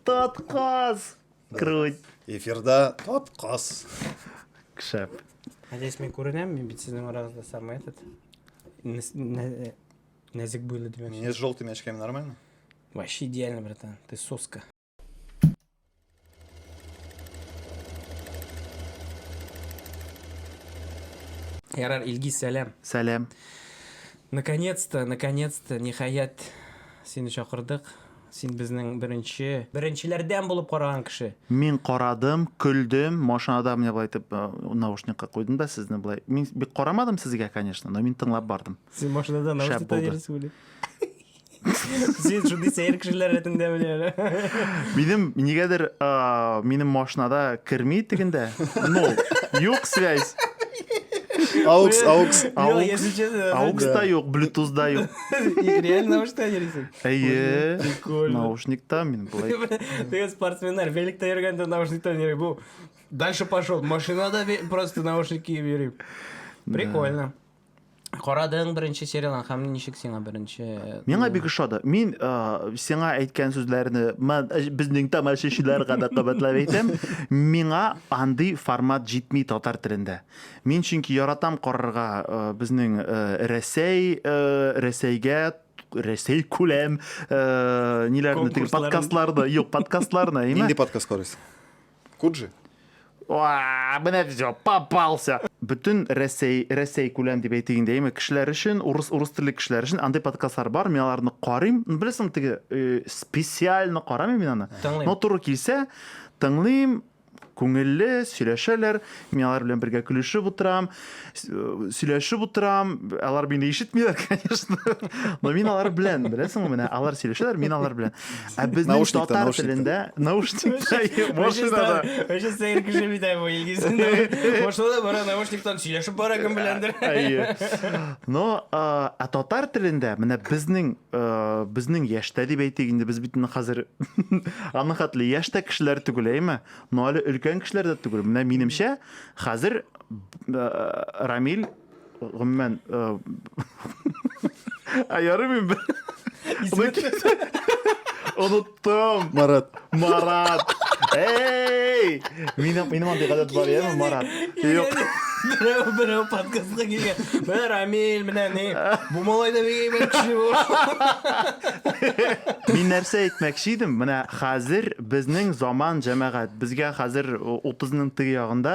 Тот каз! Круть! Эфирда тот каз! Шәп. Надеюсь, мин күренәм, мин бит сезнең арагызда самый этот... нәс- нә- Нәзек буйлы димәк. Мне с желтыми очками нормально? Вообще идеально, братан. Ты соска. Ярар, Илгиз, сәлам. Сәлам. Наконец-то, наконец-то, ниһаять, сине чакырдык. Син безнең беренче, беренчеләрдән булып караган кеше. Мин карадым, көлдем, машинада менә болай итеп э, наушникка куйдым да сезне болай. Мин бик карамадым сезгә, конечно, но мин тыңлап бардым. Син машинада наушникта йөрисең бит. Син шундый сәер кешеләр рәтендә менә әле. Минем нигәдер минем машинада керми тегендә. Ну, юк связь. Аукс, аукс. Аукс та юк, блютуз да юк. реально наушникта йөрисең әйе прикольно наушникта мин былай теге спортсменнар великта йөргәндә наушниктан йөри бу дальше пошел машинада просто наушник киеп йөри прикольно карадың беренче сериялан һәм ничек сиңа беренче э, миңа бик ошады мин ә, сиңа әйткән сүзләрне э, безнең тамашачыларга да кабатлап әйтәм миңа андый формат җитми татар телендә Мин чөнки яратам карарга безнең Рәсәй, Рәсәйгә Рәсәй күләм ниләрне теге подкастларны, юк, подкастларны, әйме? Нинди подкаст карыйсың? Куджи? Менә все, попался. Бөтен Рәсәй, Рәсәй күләм дип әйтик инде, әйме, кешеләр өчен, урыс, урыс телле кешеләр өчен андый подкастлар бар, мин аларны карыйм. Беләсең, теге специально карамыйм мин аны. Но туры килсә, тыңлыйм, күңелле, сөйләшәләр, мин алар белән бергә көлешеп утырам, сөйләшеп утырам, алар мине ишетмиләр, конечно, но мин алар белән, беләсең менә, алар сөйләшәләр, мин алар белән. Ә безнең татар телендә, наушникта, машинада. Өчен сәер кеше бит бу Илгиз. Машинада бара наушниктан сөйләшеп бара кем беләндер. Но, ә татар телендә, менә безнең Э, безнең яшьтә дип әйтик инде без бит хәзер аның хәтле яшьтә кешеләр түгел әйме но әле өлкән кешеләр дә түгел менә минемчә хәзер э, рамил гомумән э, ярый мин онытып Тым! Марат. Марат! Эй! Минем минем андый гадәт бар яме, Марат. Юк. Берәү берәү подкастка килгән. Менә Рамил, менә ни. Бу малай да бик әйбәт кеше бу. Мин нәрсә әйтмәкче идем? Менә хәзер безнең заман җәмәгать. Безгә хәзер 30 ның теге ягында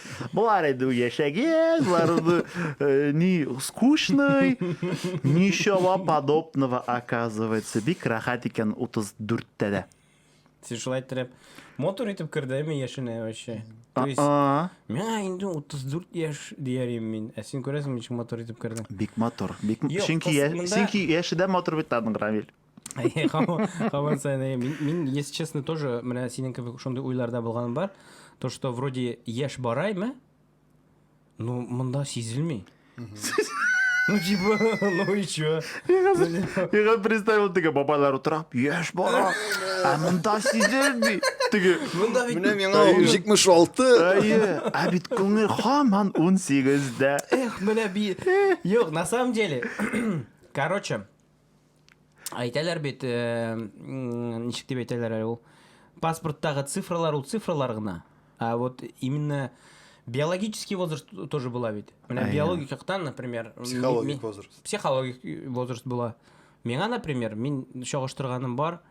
Болар инде яшәгез, болар инде э, ни скучный, ничего подобного оказывается. Бик рәхәт икән 34-тә дә. Син шулай теләп. Мотор итеп кердеме яшенә вообще? То есть, А-а. миңа инде 34 яшь дияр идем мин. Ә син күрәсең, ничек мотор итеп кердең. Бик матур. Бик Юк, Чөнки просто я- монда- чөнки яшедә матур бит аның Рамил. Кабан сайын әйе. Мин, мин, если честно, тоже менә синең кебек шундый уйларда булганым бар. То, что вроде яшь бараймы, ну, монда сизелми. Ну, типа, ну и чё? Миңа представил теге бабайлар утыра, яшь бара, ә монда сизелми. Теге, Монда бит Менә миңа ул 76. әйе, ә бит күңел хаман 18-дә. Эх, менә би. Юк, на самом деле. Короче, Әйтәләр бит, ничек дип әйтәләр әле ул? Паспорттагы цифралар ул цифралар гына. А вот именно биологический возраст тоже была бит. Менә биологик яктан, например, психологик возраст. Психологик возраст была. Миңа, например, мин чагыштырганым бар.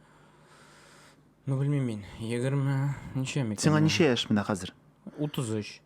Ну, белмим мин. 20 ничә микән? Сиңа ничә яшь менә хәзер? 33.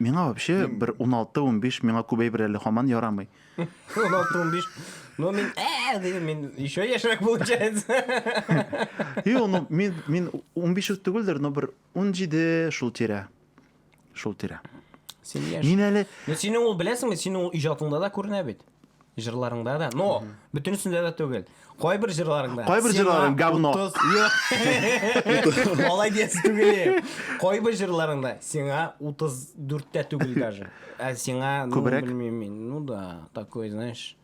Миңа вообще бер 16-15 миңа күп әйбер әле хаман ярамый. 16-15. Ну мин э дидем, мин еще яшерәк получается. И ну мин мин 15 түгелдер, но бер 17 шул тирә. Шул тирә. Син яшь. Мин әле Ну синең ул беләсеңме, синең ул иҗатыңда да күренә бит. Җырларыңда да, но бөтенесендә дә түгел. Кайбер җырларыңда. Кайбер җырларың говно. Молодец түгел. Кайбер җырларыңда сиңа 34 тә түгел даже. Ә сиңа, ну, белмим мин. Ну да, такой, знаешь,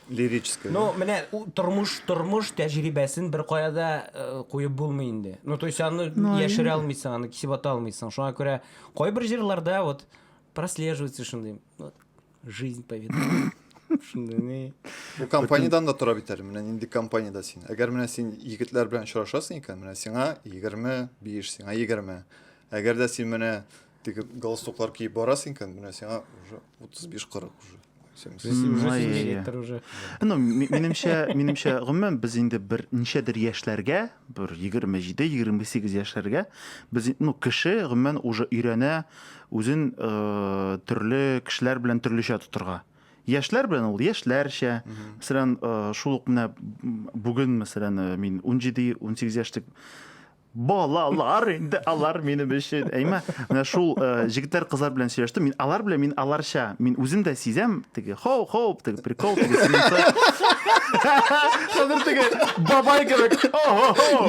лирическое. Ну, менә тормыш, тормыш тәҗрибәсен бер кая да э, куеп булмый инде. Ну, то есть аны ну, яшерә алмыйсың, аны кисеп ата алмыйсың. Шуңа күрә кайбер җырларда вот прослеживается шундый. Вот Жизнь повидала. Шундый ни. Бу компаниядән дә тора бит әле. Менә нинди компаниядә син. Әгәр менә син егетләр белән очрашасың икән, менә сиңа 25, сиңа 20. Әгәр дә син менә теге галстуклар киеп барасың икән, менә сиңа уже 35-40 уже. Ну, минемчә, минемчә, гомумән без инде бер ничәдер яшьләргә бер 27-28 яшьләргә без ну кеше гомумән уже өйрәнә үзен э, төрле кешеләр белән төрлечә тотырга яшьләр белән ул яшьләрчә мәсәлән э, шул ук менә бүген мәсәлән э, мин 17-18 яшьтек балалар инде алар минем өчен әйме менә шул э, җегетләр кызлар белән сөйләштем мин алар белән мин аларча мин үзем дә сизәм Теге хоу хоу теге прикол теге синең хәзер теге бабай кебек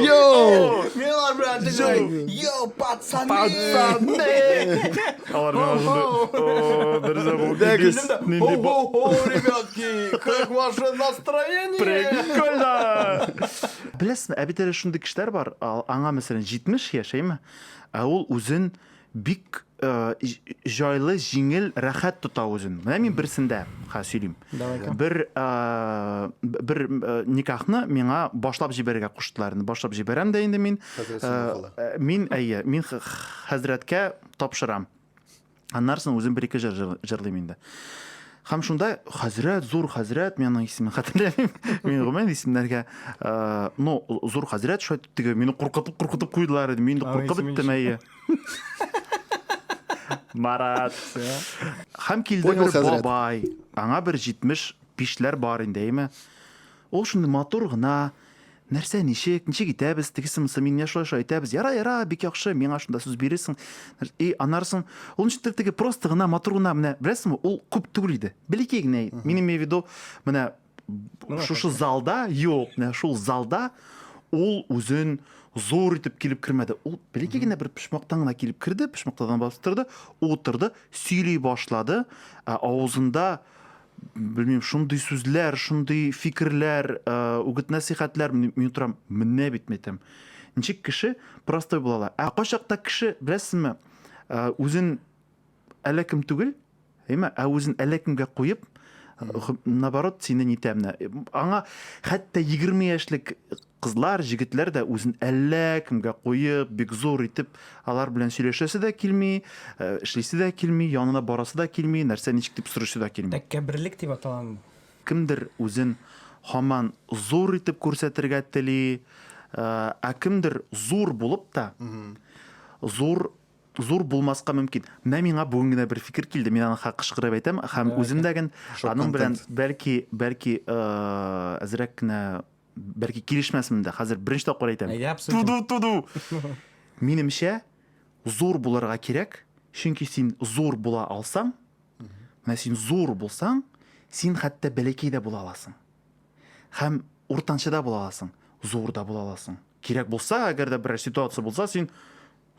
йоу мен алар белән теге йоу пацаны пацаны алар белән берзе булдыгыз нинди хоу хоу ребятки как ваше настроение прикольно беләсезме ә бит әле шундый кешеләр бар аңа мәсәлән җитмеш яшь әйме ә ул үзен бик э, җайлы, җиңел, рәхәт тота үзен. Менә мин берсендә хәзер сөйлим. Бер э, бер э, никахны миңа башлап җибәрергә куштылар. Башлап җибәрәм дә инде мин. Мин әйе, мин хәзрәткә тапшырам. Аннарсын үзем бер-ике җыр җырлыйм инде. Хәм шунда хәзрәт, зур хәзрәт, мен аның исемен хәтерләмим. Мин гомумән исемнәргә, ну, зур хәзрәт шулай дип, мин куркытып, куркытып куйдылар иде. Мин куркып беттем әйе. Марат. Хәм килде бер бабай. Аңа бер 70 бишләр бар инде, әйме? Ул шундый матур гына, нәрсә, ничек, ничек итәбез, тегесе монысы мин менә шулай шулай итәбез. Яра, яра, бик яхшы, миңа шунда сүз бирерсең. И аннары соң ул ничектер теге просто гына матур гына менә беләсеңме, ул күп түгел иде. Бер ике генә. Мин имею в виду, менә шушы залда юк менә шул залда ул үзен зур итеп килеп кермәде ул бәләкәй генә бер почмактан гына килеп керде почмактан басып торды утырды сөйли башлады ә авызында белмим шундый сүзләр шундый фикерләр үгет нәсихәтләр мин торам менә бит мәйтәм ничек кеше простой була ала ә кайчакта кеше беләсезме үзен әллә кем түгел, әйме, ә үзен әллә кемгә куеп, наоборот, сине нитә менә. Аңа хәтта 20 яшьлек кызлар, җегетләр дә үзен әллә кемгә куеп, бик зур итеп, алар белән сөйләшәсе дә килми, э, эшлисе дә килми, янына барасы да килми, нәрсә ничек дип сорыйсы да килми. Тәккәберлек дип аталам. Кемдер үзен хаман зур итеп күрсәтергә тели, э, ә кемдер зур булып та, зур Зур булмаска мөмкин. Менә миңа бүген генә бер фикер килде, мин аныкга кычкырып әйтәм һәм үзем дә ген аның белән бәлки, бәлки әзрәк кенә бәлки килешмәсмен дә. Хәзер беренче тапкыр әйтәм. Туду, туду. Минемчә, зур булырга кирәк, чөнки син зур була алсаң, менә син зур булсаң, син хәтта бәләкәй дә була аласың. Һәм уртанчы да була аласың, зур да була аласың. Кирәк булса, әгәр дә берәр ситуация булса, син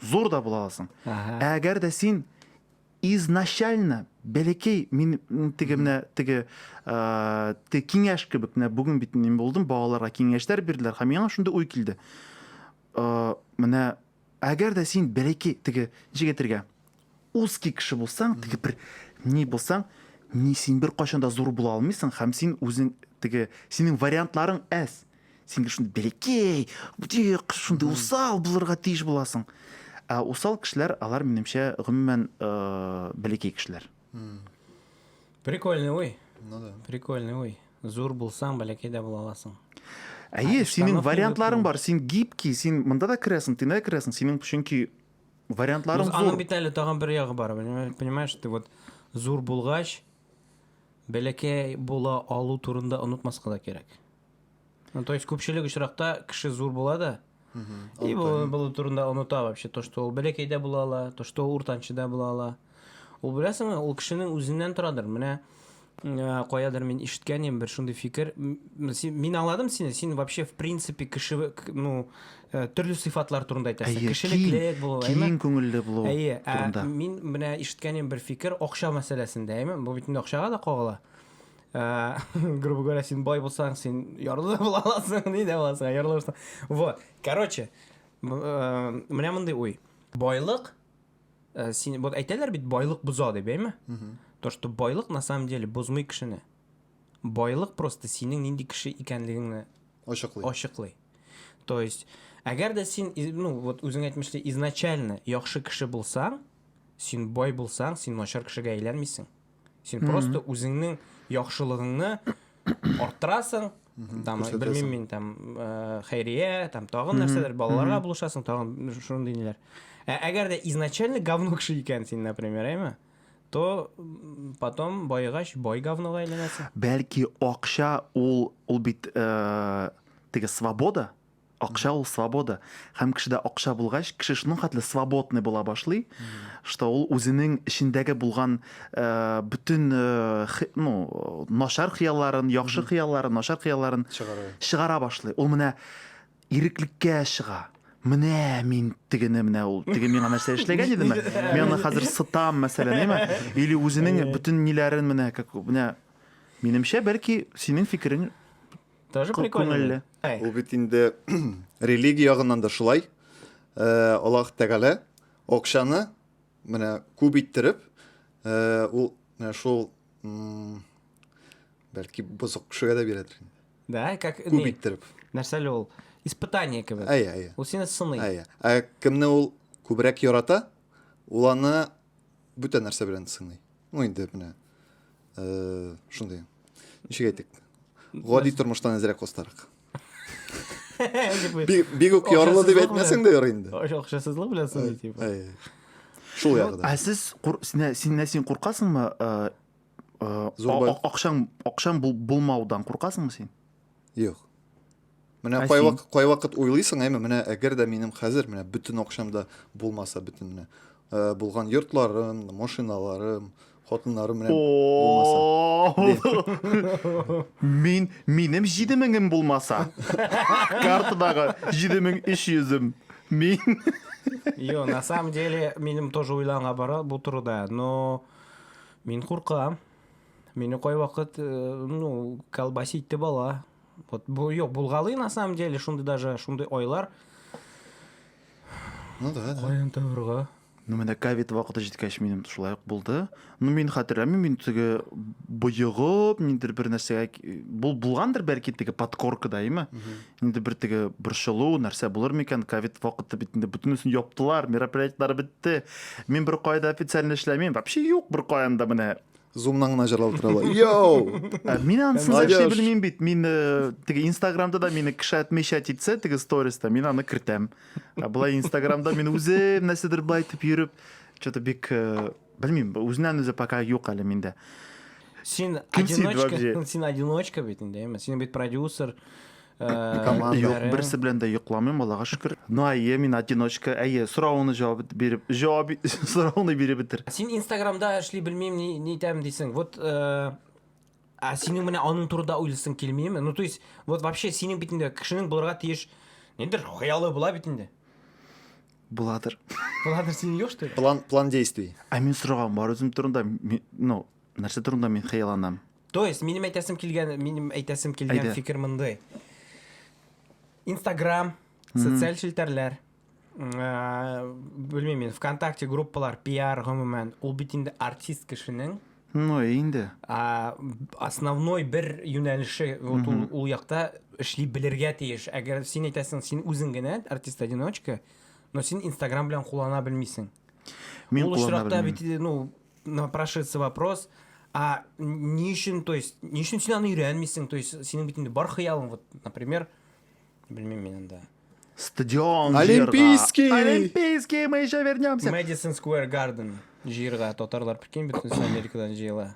зур да була аласың. Ә әгәр дә син изначально бәләкәй мин теге менә теге теге киңәш кебек менә бүген бит мин булдым балаларга киңәшләр бирделәр һәм миңа шундый уй килде менә әгәр дә син бәләкәй теге ничек әйтергә Узкий кеше булсаң, теге бер ни булсаң, ни син беркайчан да зур була алмыйсың һәм син үзең теге синең вариантларың әз. Син гел шундый бәләкәй, бик шундый усал булырга тиеш буласың. Ә усал кешеләр, алар минемчә, гомумән, э, бәләкәй кешеләр. Прикольный уй. Ну да. Прикольный уй. Зур булсаң, бәләкәй дә була аласың. Әйе, синең вариантларың бар. Син гибкий, син монда да керәсең, тинә керәсең. Синең чөнки Вариантларың зур. Аның бит әле тагын бер ягы бар, понимаешь, ты вот зур булгач, бәләкәй була алу турында онытмаска да кирәк. Ну, то есть күпчелек очракта кеше зур була да, и бу булу турында оныта вообще, то, что ул бәләкәй дә була ала, то, что ул уртанчы да була ала. Ул беләсеңме, ул кешенең үзеннән торадыр. Менә э, каядыр мин ишеткән идем бер шундый фикер. Мин аңладым сине, син вообще в принципе кеше, ну, э, төрле сыйфатлар турында әйтәсең. Кешелеклек булу, әйме? Киң күңелле булу әйе, ә турында. Әйе, мин менә ишеткән идем бер фикер акча мәсьәләсендә, әйме? Бу бит инде акчага да кагыла. Э, грубо говоря, син бай булсаң, син ярлы була аласың, ни дә буласың, ярлы булсаң. Вот. Короче, менә мондый уй. Байлык Э, син вот әйтәләр бит байлык боза дип әйме то что байлык на самом деле бозмый кешене байлык просто синең нинди кеше икәнлегеңне ачыклый ачыклый то есть әгәр дә син ну вот үзең әйтмешли изначально яхшы кеше булсаң син бай булсаң син начар кешегә әйләнмисең Син mm -hmm. просто үзеңнең яхшылыгыңны арттырасың, там белмим мин там э, хәйрия, там тагын нәрсәләр, балаларга булышасың, тагын шундый ниләр. Ә әгәр дә изначально говно кеше икән син, например, әйме? то потом байгач бай говноға әйләнәсең. Бәлки акча ул ул бит э, теге свобода, Акча ул свобода. Һәм кешедә акча булгач, кеше шуның хәтле свободный була башлый, что ул үзенең эчендәге булган бөтен ну, начар хыялларын, яхшы хыялларын, начар хыялларын чыгара башлый. Ул менә иреклеккә чыга менә мин тегене менә ул теге миңа нәрсә эшләгән идеме мин аны хәзер сытам мәсәлән әйме или үзенең бөтен ниләрен менә как менә минемчә бәлки синең фикерең Тоже прикольно. Ул бит инде религия ягыннан да шулай. Э, Аллах Тәгалә акчаны менә күп иттереп, э, ул менә шул бәлки бозык кешегә дә бирәдер. Да, как күп иттереп. Нәрсә әле ул? Испытание кебек. Әйе, әйе. Ул сине сыный. Әйе. Ә кемне ул күбрәк ярата, ул аны бүтән нәрсә белән сыйный ну инде менә э, шундый ничек әйтик гади тормыштан әзрәк остарак бик үк ярлы дип әйтмәсәң дә ярый инде акчасызлык белән сыйный типа шул ягыда ә сез син син куркасыңмы э, э, акчаң акчаң булмаудан куркасыңмы син юк Менә Ә кайвак син? кайвакыт уйлыйсың, әйме, менә әгәр дә минем хәзер менә бөтен акчам да булмаса, бөтен менә э, булган йортларым, машиналарым, хатыннарым менә булмаса. О! Мин минем 7000-ем булмаса. Картадагы 7300-ем. Мин Йо, на самом деле, минем тоже уйланга бара бу турыда, но мин куркам. Мине кайвакыт, э, ну, колбасит дип ала. вот бу юк булгалый на самом деле шундый даже шундый ойлар ну да, да. каян табырга ну менә ковид вакыты җиткәч минем шулай ук булды ну мин хәтерләмим мин теге боегып ниндидер бер нәрсәгә бул булгандыр бәлки теге подкоркадаймы инде бер теге борчылу нәрсә булыр микән ковид вакыты бит инде бөтенесен яптылар мероприятиеләр бетте мин бер кайда официально эшләмим вообще юк бер каян да менә Зумнан гына җырлап тора алар. Йоу! Мин ансын да эшли белмим бит. Мин теге Инстаграмда да мине кеше отмечать итсә, теге сториста, мин аны кертәм. Ә болай Инстаграмда мин үзем нәрсәдер былай итеп йөреп, что-то бик белмим, үзеннән үзе пока юк әле миндә. Син одиночка, син одиночка бит инде, әйме? Син бит продюсер, Юк, берсе белән дә йокламыйм, Аллага шөкер. Ну, әйе, мин одиночка. Әйе, соравыңны җавап биреп, җавап соравыңны биреп бетер. Син Инстаграмда эшли белмим, ни ни итәм дисең. Вот э, а синең менә аның турында уйлыйсың килмиме? Ну, то есть, вот вообще синең бит инде кешенең булырга тиеш нидер хыялы була бит инде. Буладыр. Буладыр синең юк что ли? План план действий. Ә мин сораган бар үзем турында, ну, нәрсә турында мин хыялланам? То есть, минем әйтәсем килгән, минем әйтәсем килгән Әйдә. фикер мондый. Инстаграм, социаль челтәрләр, ә, белмим мин, ВКонтакте группалар, пиар гомумән, ул бит инде артист кешенең Ну, инде. а, основной бер юнәлеше вот ул, ул якта эшли белергә тиеш. Әгәр син әйтәсең, син үзең генә артист одиночка, но син Инстаграм белән куллана белмисең. Мин ул куллана очракта белмим. бит ну Напрашивается вопрос, а ни өчен, то есть, ни өчен син аны өйрәнмисең, то есть, синең бит инде бар хыялың, вот, например, белмим мин анда. Стадион Олимпийский! Олимпийский, мы еще вернемся. Мэдисон Сквер Гарден җыерга татарлар, прикинь, бөтенесе Америкадан җыела.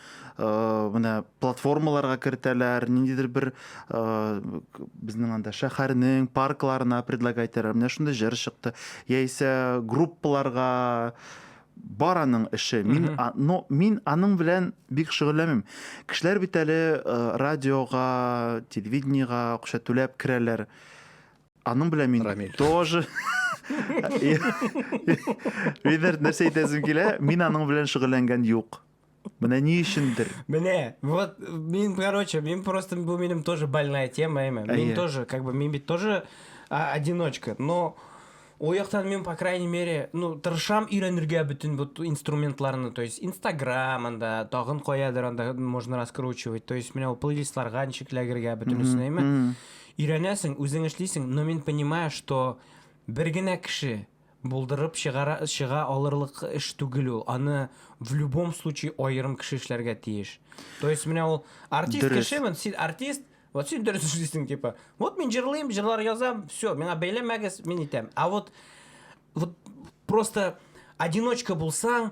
Э, менә платформаларга кертәләр ниндидер бер э, безнең анда шәһәрнең паркларына предлагать итәләр менә шундый җыр чыкты яисә группаларга бар аның эше мин но мин аның белән бик шөгыльләнмим кешеләр бит әле э, радиога телевидениега акча түләп керәләр аның белән мин Рамиль. тоже Видер нәрсә әйтәсем килә мин аның белән шөгыльләнгән юк Менә ни өчендер. Менә, вот, мин, короче, мин просто, бу минем тоже больная тема, әйме. Мин тоже, как бы, мин бит тоже а, одиночка, но Ул яктан мин, по крайней мере, ну, тырышам өйрәнергә бөтен бу инструментларны, то есть Instagram анда, тагын каядыр анда можно раскручивать, то есть менә ул плейлистларга ничек эләгергә бөтенесенә, әйме. Өйрәнәсең, үзең эшлисең, но мин понимаю, что бер генә кеше Булдырып чыгара чыга алырлык эш түгел ул. Аны в любом случае аерым кеше эшләргә тиеш. То есть менә ул артист Дөрес. кеше, вот син артист, вот син дөрес эшлисең типа. Вот мин җырлыйм, җырлар язам, все, миңа бәйләмәгез, мин итәм. А вот вот просто одиночка булсаң,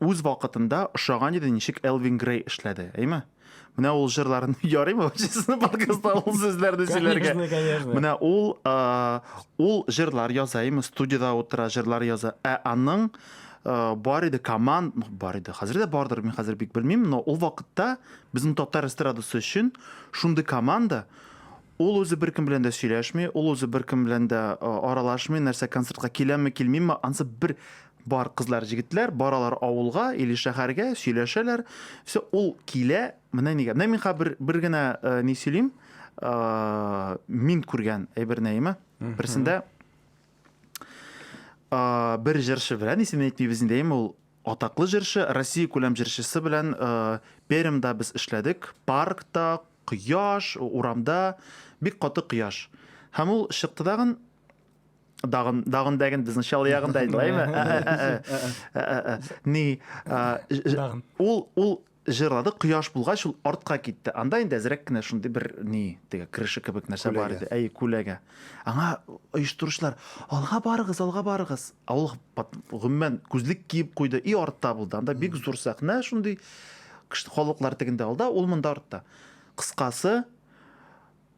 Үз вакытында ошаган иде ничек Элвин Грей эшләде, әйме? Менә ул җырларын ярыймы честно подкастта ул сүзләрне сөйләргә? Конечно, конечно. Менә ул ул җырлар яза, әйме, студиядә утыра, җырлар яза. Ә аның бар иде команд, ну, бар иде. Хәзер дә бардыр, мин хәзер бик белмим, но ул вакытта безнең татар эстрадасы өчен шундый команда, ул үзе беркем белән дә сөйләшми, ул үзе беркем белән дә аралашмый, нәрсә концертка киләме, килмиме, ансы бер Бар кызлар, җегетләр баралар авылга или шәһәргә, сөйләшәләр. Все, ул килә, менә нигә. Менә мин хәзер бер, бер генә э, ни сөйлим, э, мин күргән әйбернәемә. Берсендә э, бер җырчы белән, исемен әйтмибез инде, әйме, ул атаклы җырчы, Россия күләм җырчысы белән э, Пермьда без эшләдек. Паркта, кояш, урамда, бик каты кояш. Һәм ул чыкты дагын, Дагын, дагын дәген безнең чал ягында иде, лайме? Ни, ул, ул жырлады, кояш булгач, ул артка китте. Анда инде әзрәк кенә шундый бер ни, теге крыша кебек нәрсә бар иде. Әй, күләгә. Аңа оештыручылар, алга барыгыз, алга барыгыз. Ә ул гөммән күзлек киеп куйды, и артта булды. Анда бик зур сәхнә, шундый халыклар тегендә алда, ул монда артта. Кыскасы,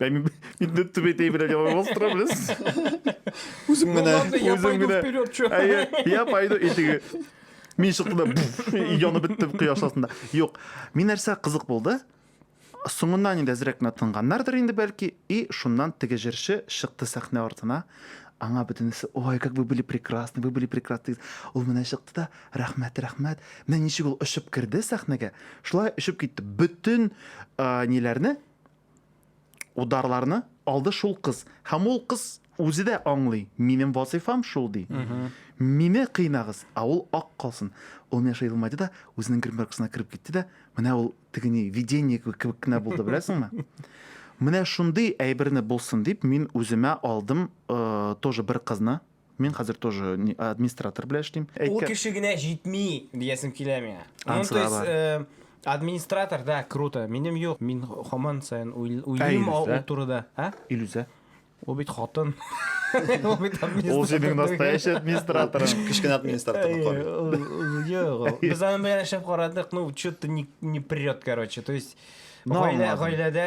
Мин дә түбе тейбер деп алып торабыз. Үзем генә, үзем генә. Әйе, я пойду итеге. Мин чыктым да янып беттем кояш астында. Юк, мин нәрсә кызык булды? Соңыннан инде әзрәк кенә тынганнардыр инде бәлки, и шуннан теге җырчы чыкты сәхнә артына. Аңа бөтенесе, ой, как вы были прекрасны, вы были прекрасны. Ул менә чыкты да, рәхмәт, рәхмәт. Менә ничек ул очып керде сәхнәгә. Шулай очып китте. Бөтен ниләрне ударларны алды шул кыз. Һәм ул кыз үзе дә аңлый, минем вазыйфам шул ди. Мине кыйнагыз, а ул ак калсын. Ул Миша елмайды да, үзенең гримеркасына кереп китте дә, менә ул тегени видение кебек кенә булды, беләсеңме? Менә шундый әйберне булсын дип, мин үземә алдым тоже бер кызны, Мин хәзер тоже администратор белән эшлим. Ул кеше генә җитми диясем килә миңа. Ну, то есть, э, администратор, да, круто. Минем юк. Мин хаман сайын уйлыйм ул турыда. А? Илюзә. Ул бит хатын. Ул бит администратор. Ул синең настоящий администратор. Кичкенә администратор. Юк. Без аны белән эшләп карадык. Ну, что-то не прет, короче. То есть, Гаилә, гаиләдә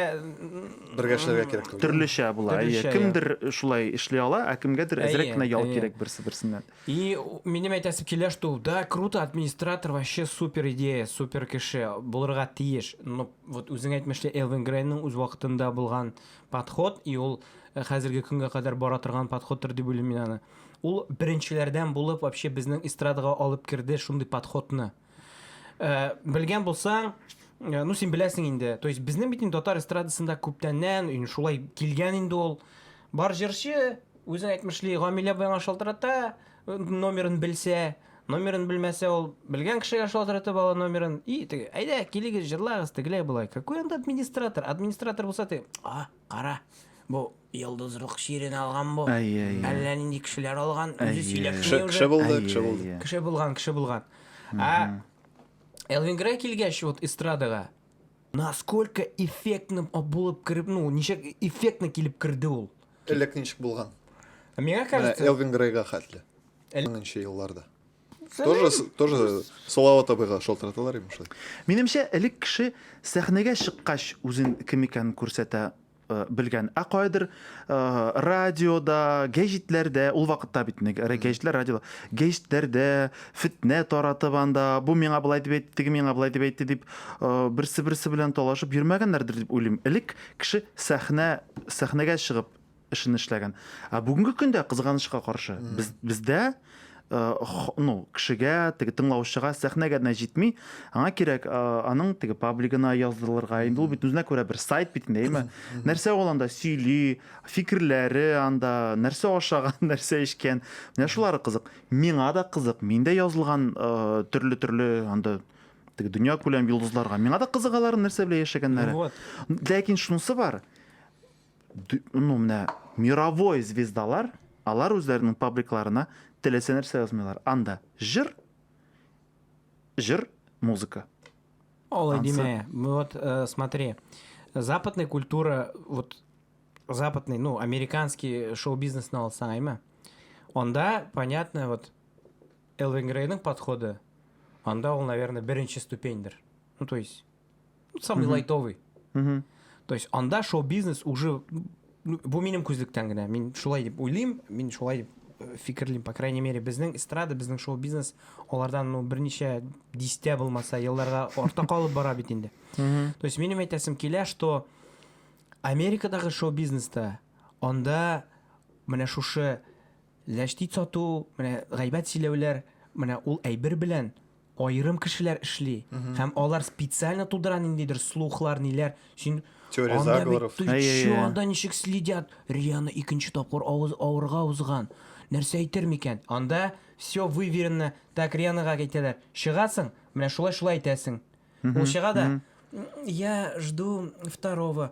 бергә эшләргә кирәк. Төрлечә була. Әйе, кемдер шулай эшли ала, ә кемгәдер әзрәк кенә ял кирәк берсе-берсеннән. И, минем әйтәсем килә, что да, круто, администратор вообще супер идея, супер кеше, булырга тиеш. Но вот үзең әйтмешли, Элвин Грейның үз вакытында булган подход, и ул хәзерге көнгә кадәр бара торган подходтыр дип уйлыйм мин аны. Ул беренчеләрдән булып вообще безнең эстрадага алып керде шундый подходны. Э, белгән булсаң, э, ну син беләсең инде. То есть безнең бит инде татар эстрадасында күптәннән инде шулай килгән инде ул. Бар җырчы үзен әйтмешли Гамилә буяңа шалтырата, э, номерын белсә, номерын белмәсә ул белгән кешегә шалтыратып ала номерын. И, теге, әйдә, килегез, җырлагыз, тегеләй болай. Какой анда администратор? Администратор булса ты, а, Кара, бу йолдызлык чирен алган бу. Әллә нинди кешеләр алган, үзе сөйләшми уже. Кеше булды, кеше булды. Кеше булган, кеше булган. Ә Элвин Грей килгәч, вот эстрадага, насколько эффектно булып кереп, ну, ничек эффектно килеп керде ул. Элек ничек булган? Миңа кажется... Элвин Грейга хәтле. Элнче елларда. Тоже, тоже Салават абыйга шалтыраталар иде шулай. Минемчә, элек кеше сәхнәгә чыккач үзен кем икәнен күрсәтә э, белгән. Ә кайдыр э, радиода, гәҗитләрдә, ул вакытта бит инде гәҗитләр, радиода, гәҗитләрдә фетнә таратып анда, бу миңа былай дип әйтте, теге миңа былай дип әйтте дип, э, берсе-берсе белән талашып йөрмәгәннәрдер дип уйлыйм. Элек кеше сәхнә сәхнәгә чыгып эшен эшләгән. Ә бүгенге көндә кызганычка каршы, без бездә ну, кешегә, теге тыңлаучыга, сәхнәгә генә җитми, аңа кирәк аның теге паблигына язылырга. Инде ул бит үзенә күрә бер сайт бит инде, әйме? Нәрсә ул анда сөйли, фикерләре анда, нәрсә ашаган, нәрсә эчкән. Менә шулары кызык. Миңа да кызык. Мин дә язылган төрле-төрле анда теге дөнья күләм йолдызларга. Миңа да кызыгалар нәрсә белән яшәгәннәре. Ләкин шунысы бар. ну менә мировой звездалар алар үзләренең пабликларына теләсә нәрсә язмыйлар анда җыр җыр музыка алай димә вот э, смотри западная культура вот западный ну американский шоу бизнесны алсаң әйме анда понятно вот элвин грейның подходы анда ул наверное беренче ступеньдер ну то есть Ну, самый угу. лайтовый. Угу. То есть анда шоу-бизнес уже ну, бу минем күзлектән генә. Мин шулай дип уйлыйм, мин шулай дип э, фикерлим, по крайней мере, безнең эстрада, безнең шоу-бизнес алардан ну берничә дистә булмаса, елларга орта калып бара бит инде. То есть минем әйтәсем килә, что Америкадагы шоу-бизнеста анда менә шушы Ләштит сату, менә гайбәт сөйләүләр, менә ул әйбер белән аерым кешеләр эшли. Һәм алар специально тудыра ниндидер слухлар, ниләр. Син Теория анда бит заговоров. ты Әйе, чё, әйе. анда ничек следят? Риана икенче тапкыр авыз авырга узган. Нәрсә әйтер микән? Анда всё выверено. Так, Рианага әйтәләр, чыгасың, менә шулай-шулай әйтәсең. Ул чыга да, М, Я жду второго.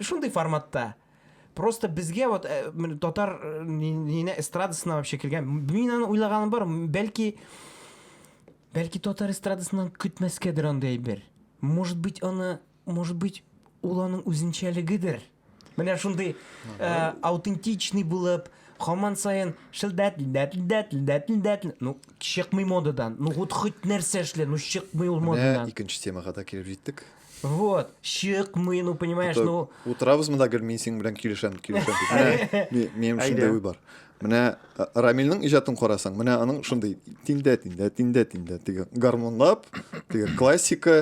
Шундый форматта. Просто безгә вот э, татар э, ненә эстрадасына вообще килгән. Мин аны уйлаганым бар, бәлки бәлки татар эстрадасыннан көтмәскәдер андый әйбер. Может быть, аны, может быть, ул аның үзенчәлегедер. Менә шундый э, аутентичный булып, хаман сайын шылдат лдат лдат лдат лдат ну чыкмый модадан ну вот хоть нәрсә эшле ну чыкмый ул модадан икенче темага да килеп җиттек Вот, чыкмый, ну, понимаешь, ну... Утырабыз монда гел мин синең белән килешәм, килешәм. Менә минем шундый уй бар. Менә э, Рамилнең иҗатын карасаң, менә аның шундый тиндә, тиндә, тиндә, тиндә, теге гармонлап, теге классика.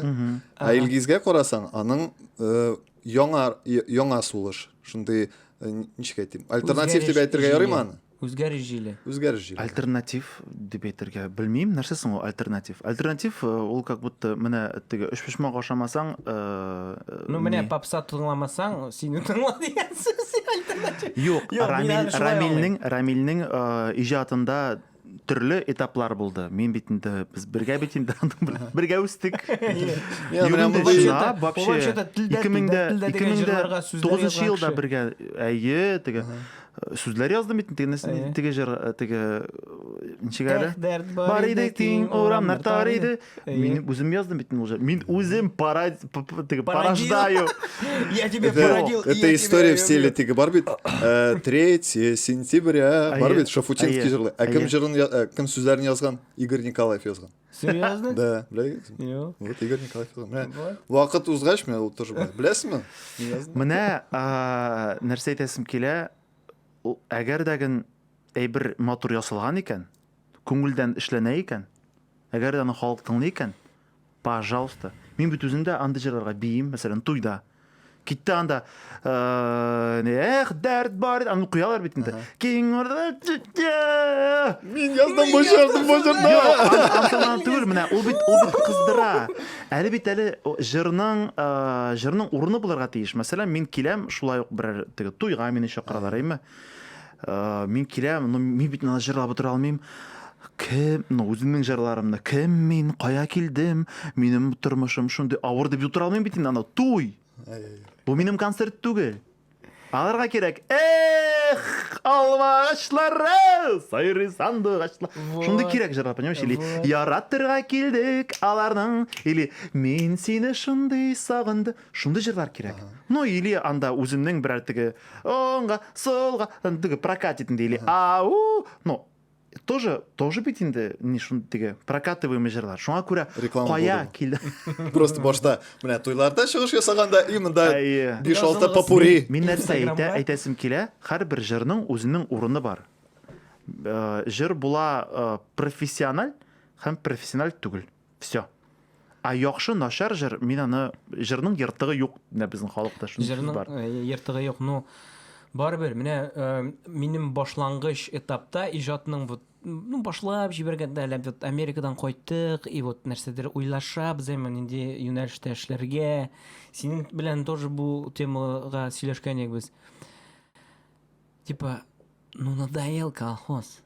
Ә Илгизгә карасаң, аның э, яңа яңа сулыш, шундый э, ничек әйтим, альтернатив дип әйтергә ярыймы аны? Үзгәреш җиле. Үзгәреш җиле. Альтернатив дип әйтергә белмим, нәрсә соң ул альтернатив? Альтернатив э, ул как будто менә теге өчпочмак ашамасаң, э, Ну менә попса тыңламасаң, сине тыңла дигән сүз альтернатив. Юк, Рамил Рамилнең Рамилнең э, иҗатында төрле этаплар булды. Мин бит инде без бергә бит инде бергә үстек. Вообще 2009 елда бергә әйе, теге Сүзләр яздым бит теге нәрсә- теге җыр э, теге э, ничек әле? Эх, дәрт бар Бар иде киң урамнар тар иде. Әйе. Мин үзем яздым бит ул җыр. Мин үзем пара п- п- теге Породил. порождаю. Я тебе Это, породил, и я это тебя история в люблю. стиле тиги бар бит. Э, 3 сентября. Бар Әйе, бит Шафутинский әйе, җырлы. Ә кем әйе. җырын я- ә, кем сүзләрен язган? Игорь Николаев язган. Серьезно? Да, беләләр идем. Вот Игорь Николаев. Вакыт узгач, мен ул тоже бар. Беләсезме? Менә нәрсә әйтәсем килә, әгәр дә ген әйбер матур ясалган икән, күңелдән эшләнә икән, әгәр дә аны халык тыңлый икән, пожалуйста. Мин бит үзем дә андый җырларга биим, мәсәлән, туйда. Китте анда. Эх, дәрт бар. Аны куялар бит инде. Киң урда чүккә. Мин яздым бу җырны, бу җырны. Антонан түгел менә, ул бит ул бит кыздыра. Әле бит әле җырның җырның урыны булырга тиеш. Мәсәлән, мин киләм, шулай ук берәр теге туйга мине чакыралар, әйме? Э, мин киләм, но мин бит аны җырлап утыра алмыйм. Кем, ну, үземнең җырларымны, кем мин, кая килдем, минем тормышым шундый авыр дип утыра алмыйм бит инде аны. Туй! Бу минем концерт түгел. Аларга кирәк. Эх, алма агачлары, сайрый сандугачлар. Шундый кирәк җырлар, понимаешь? Или яратырга килдек аларның, или мин сине шундый сагындым. Шундый җырлар кирәк. Ну или анда үземнең берәр теге оңга, солга, теге прокатит инде или ау, ну тоже тоже бит инде не шундый теге прокатываемый җырлар. Шуңа күрә кая килде. Просто башта менә туйларда чыгыш ясаганда и монда 5-6 попури. Мин нәрсә әйтә, әйтәсем килә, һәрбер җырның үзенең урыны бар. Э, җыр була э, профессиональ һәм профессиональ түгел. Все. А яхшы, начар җыр, мин аны җырның ертыгы юк, менә безнең халыкта шундый сүз бар. Җырның э, ертыгы юк, ну барыбер, менә э, минем башлангыч этапта иҗатның вот ну, башлап җибәргәндә әле вот Америкадан кайттык, и вот нәрсәдер уйлашабыз, әмма нинди юнәлештә эшләргә. Синең белән тоже бу темага сөйләшкән идек без. Типа, ну надоел колхоз.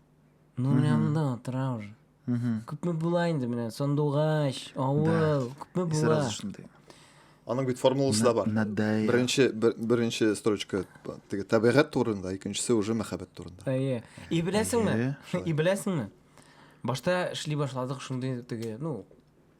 Ну мында утыра уже. Күпме була инде менә Сандугач, авыл, күпме була. Сразу шундый. Аның бит формуласы да бар. Надоел. Беренче беренче строчка теге табигать турында, икенчесе уже мәхәббәт турында. Әйе. И беләсеңме? И беләсеңме? Башта эшли башладык шундый теге, ну,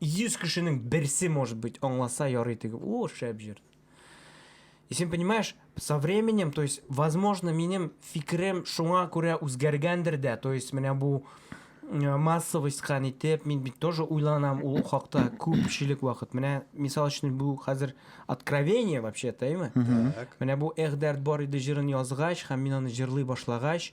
100 кешенең берсе, может быть, аңласа ярый теге. О, шәп җыр. И син понимаешь, со временем, то есть, возможно, минем фикерем шуңа күрә үзгәргәндер дә. То есть, менә бу э, массовость кан итеп, мин бит тоже уйланам ул хакта күпчелек вакыт. Менә, мисал өчен, бу хәзер откровение вообще-то, әйме? Менә бу Эх дәрт бар иде җырын язгач, һәм мин аны җырлый башлагач,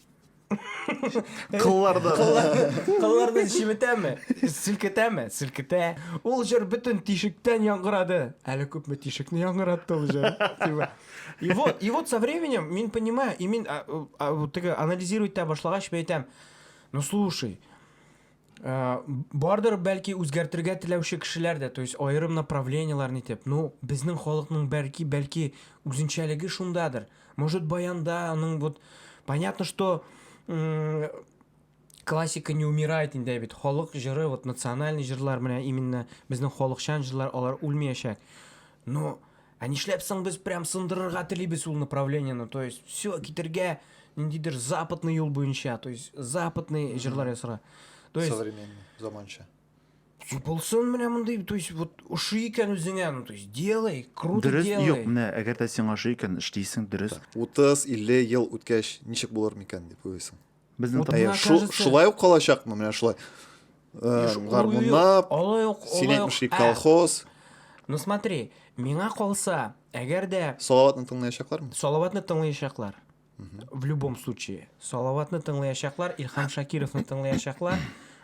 Кылларда. Кылларны чиметәме? Селкетәме? Селкетә. Ул җыр бөтен тишектән яңгырады. Әле күпме тишекне яңгыратты ул җыр. И вот, и вот со временем мин понимаю, и мин теге анализировать итә башлагач, мин әйтәм, ну слушай, Э, бардыр бәлки үзгәртергә теләүче кешеләр дә то есть аерым направлениелар нитеп ну безнең халыкның бәлки бәлки үзенчәлеге шундадыр может баянда аның вот понятно что классика не умирает инде бит халык жыры вот национальный жырлар менә именно безнең халыкчан жырлар алар үлмәячәк но Ә нишләп соң без прям сындырырга телибез ул направлениены? То есть, все китергә ниндидер западный юл буенча, то есть, западный җырлар ясарга. То есть, современный, заманча. Булсын менә мондый, то есть, вот ошый икән үзеңә, ну, то есть, делай, круто дөрес, делай. Дөрес, юк, менә, әгәр дә сиңа ошый икән, эшлисең, дөрес. 30-50 ел үткәч, ничек булыр микән дип уйлыйсың? Безнең тормыш. Шу, шулай ук калачакмы, менә шулай. Э, гармунлап, синәйтмешли ә, колхоз. Ну смотри, миңа калса, әгәр дә... Салаватны тыңлаячаклармы? Салаватны тыңлаячаклар. В любом случае. Салаватны тыңлаячаклар, Илхам Шакировны тыңлаячаклар.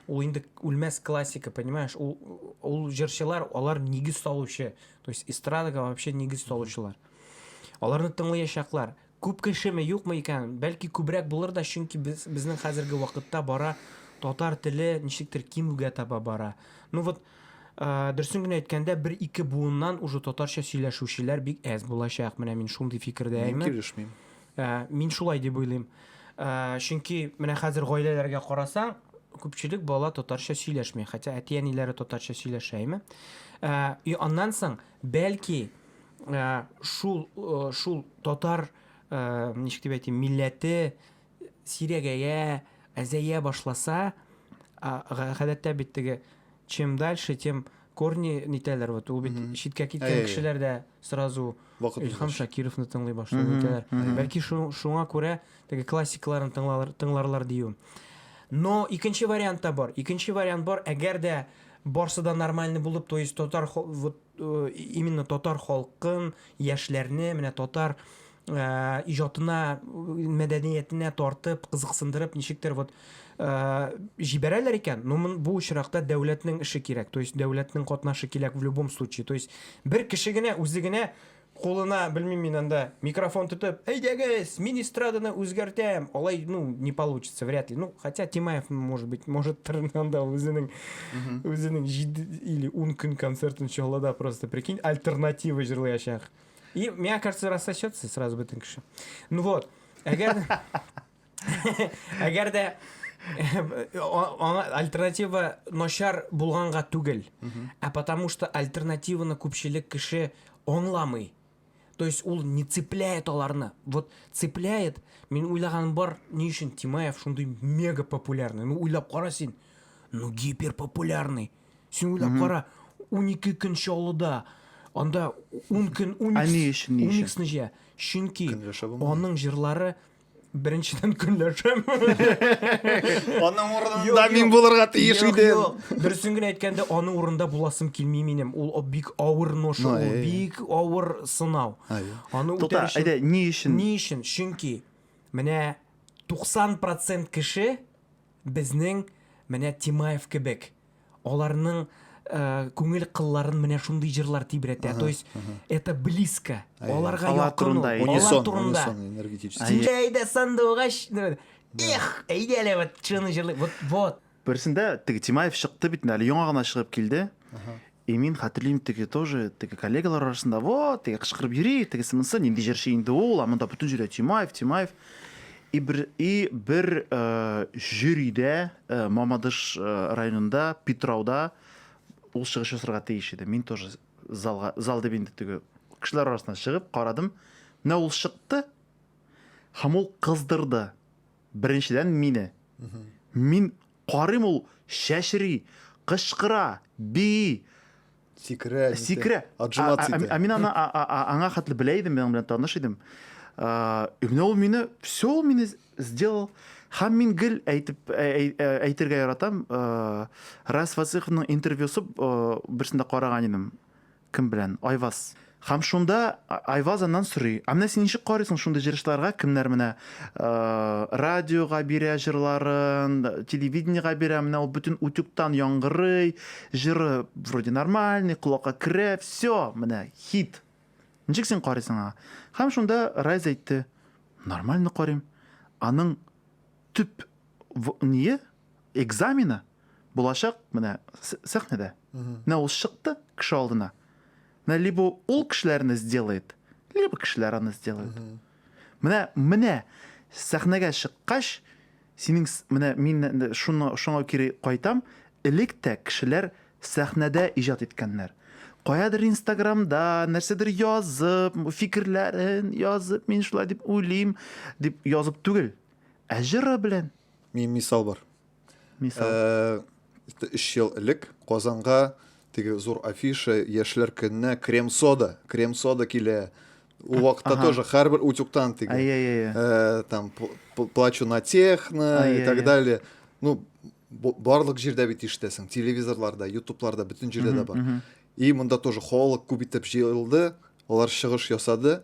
Ул инде үлмәс классика, понимаешь? Ул, ул җырчылар, алар нигез салучы. То есть эстрадага вообще нигез салучылар. Аларны тыңлаячаклар. Күп кешеме, юкмы икән? Бәлки күбрәк булыр да, чөнки без, безнең хәзерге вакытта бара татар теле ничектер кимүгә таба бара. Ну вот, дөресен генә әйткәндә, бер-ике буыннан уже татарча сөйләшүчеләр бик әз булачак. Менә мин шундый фикердә Мин килешмим. Мин шулай дип уйлыйм. Чөнки менә хәзер гаиләләргә карасаң, күпчелек бала татарча сөйләшми, хотя әти-әниләре татарча сөйләшә, әйме? И аннан соң, бәлки, Ә, шул э, шул татар ә, ничек дип әйтим милләте сирәгәя әзәя башласа гадәттә бит теге чем дальше тем корни нитәләр вот ул бит читкә киткән кешеләр дә сразу илхам шакировны тыңлый башлый нитәләр бәлки шуңа күрә теге классикаларын тыңлар тыңларлар дию но икенче вариант та бар икенче вариант бар әгәр дә барсы да нормальный булып то есть татар вот именно татар халкын, яшьләрне менә татар Э, иҗатына мәдәниятенә тартып кызыксындырып ничектер вот э, җибәрәләр икән но бу очракта дәүләтнең эше кирәк то есть дәүләтнең катнашы кирәк в любом случае то есть бер кеше генә үзе генә Кулына, белмим мин анда, микрофон тотып, Әйдәгез, мин эстраданы үзгәртәм! Алай, ну, не получится, вряд ли. Ну, хотя Тимаев, может быть, может тыр анда үзенең, үзенең җид или ун көн концертын Чаллыда просто, прикинь, альтернатива җырлаячак. И, меня кажется, рассосется сразу бөтен кеше. Ну вот, әгәр... Әгәр дә аңа альтернатива начар булганга түгел, ә потому что альтернативаны күпчелек кеше аңламый. То есть ул не цепляет аларны. Вот цепляет, мин уйлаган бар, ни өчен Тимаев шундый мега популярный. Ну уйлап кара син. Ну гипер популярный. Син уйлап кара, 12 көн чалуда, анда 10 көн уникс, униксны җә. Чөнки аның җырлары Беренчедән көнләшәм. Аның урынында мин булырга тиеш идем. Дөресен генә әйткәндә, аның урынында буласым килми минем. Ул бик авыр ноша, ул э. бик авыр сынау. Аны Тута, әйдә, ни өчен? Ни өчен? Чөнки менә 90% кеше безнең менә Тимаев кебек Аларның э, күңел кылларын менә шундый җырлар тибрәтә. То есть это близко. Аларга Алар якын турында ул. әйтә. Алар Унисон, турында. унисон, энергетический. Синдә әйдә сандугач. ну, Эх, әйдә әле вот чыны җырлый. Вот вот. Берсендә теге Тимаев чыкты бит инде, әле яңа гына чыгып килде. И мин хәтерлим теге тоже, теге коллегалар арасында, вот, теге кычкырып йөри, тегесе монысы, нинди җырчы инде ул, а монда бөтен җирдә Тимаев, Тимаев. И бер и бер жюридә Мамадыш районында Питрауда ул чыгыш ясарга тиеш иде. Мин тоже залга зал дип инде теге кешеләр арасына чыгып карадым. Менә ул чыкты һәм ул кыздырды. Беренчедән мине. Мин Карыйм ул чәчри, кычкыра, бии. Сикерә, нитә. Сикерә. Отжиматься итә. Ә мин аны аңа хәтле белә идем, мин аның белән таныш идем. И менә ул мине, все ул мине сделал. Һәм мин гел әйтеп әйтергә яратам, Рас Васыховның интервьюсы берсендә караган идем. Кем белән? Айваз. Һәм шунда Айваз аннан сорый, Ә менә син ничек карыйсың шундый җырчыларга, кемнәр менә радиога бирә җырларын, телевидениега бирә, менә ул бөтен утюгтан яңгырый, җыры вроде нормальный, колакка керә, все, менә хит. Ничек син карыйсың аңа? Һәм шунда Райз әйтте, Нормально карыйм. Аның төп ние, экзамены, булачак менә сәхнәдә. Менә ул чыкты кеше алдына. Менә либо ул кешеләрне сделает, либо кешеләр аны сделают. Менә менә сәхнәгә чыккач, синең менә мин шуны шуңа кире кайтам, элек тә кешеләр сәхнәдә иҗат иткәннәр. Каядыр Инстаграмда нәрсәдер язып, фикерләрен язып, мин шулай дип уйлыйм, дип язып түгел. Ә җыры белән. Мин мисал бар. Мисал. Э, өч ел элек Казанга теге зур афиша яшьләр көненә крем сода, крем сода килә. У вакытта тоже һәрбер утюгтан теге. Э, там плачу на техно и так далее. Ну, барлык җирдә бит ишетәсең, телевизорларда, ютубларда, бөтен җирдә дә бар. И монда тоже халык күп итеп җыелды, алар чыгыш ясады.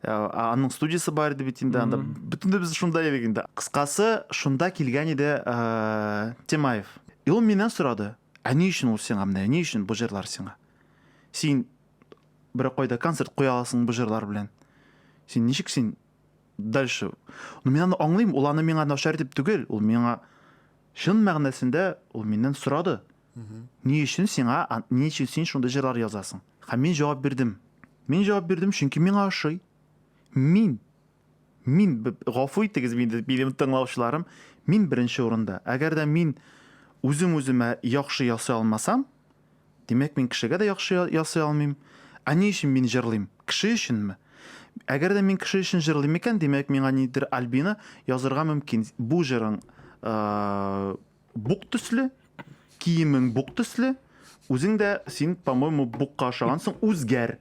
Ә, аның студиясе бар иде бит инде анда. Бөтен дә без шунда идек инде. Кыскасы, шунда килгән иде ә, Темаев. И ул миннән сорады, ә ни өчен ул сиңа менә, ни өчен бу җырлар сиңа? Син бер кайда концерт куя аласың бу җырлар белән. Син ничек син дальше? Ну, мин аны аңлыйм, ул аны миңа начар дип түгел, ул миңа чын мәгънәсендә ул миннән сорады. Ни өчен сиңа, ни өчен син шундый җырлар язасың? Һәм мин җавап бирдем. Мин җавап бирдем, чөнки миңа ошый. Мин мин гафу итегез мине, минем тыңлаучыларым, мин беренче урында. Әгәр дә мин үзем үземә яхшы ясый алмасам, димәк мин кешегә дә яхшы ясый алмыйм. Ә ни өчен мин җырлыйм? Кеше өченме? Әгәр дә мин кеше өчен җырлыйм икән, димәк миңа нидер Альбина язырга мөмкин. Бу җырың Бук төсле, киемең бук төсле, үзең дә син, по-моему, букка ошагансың, үзгәр.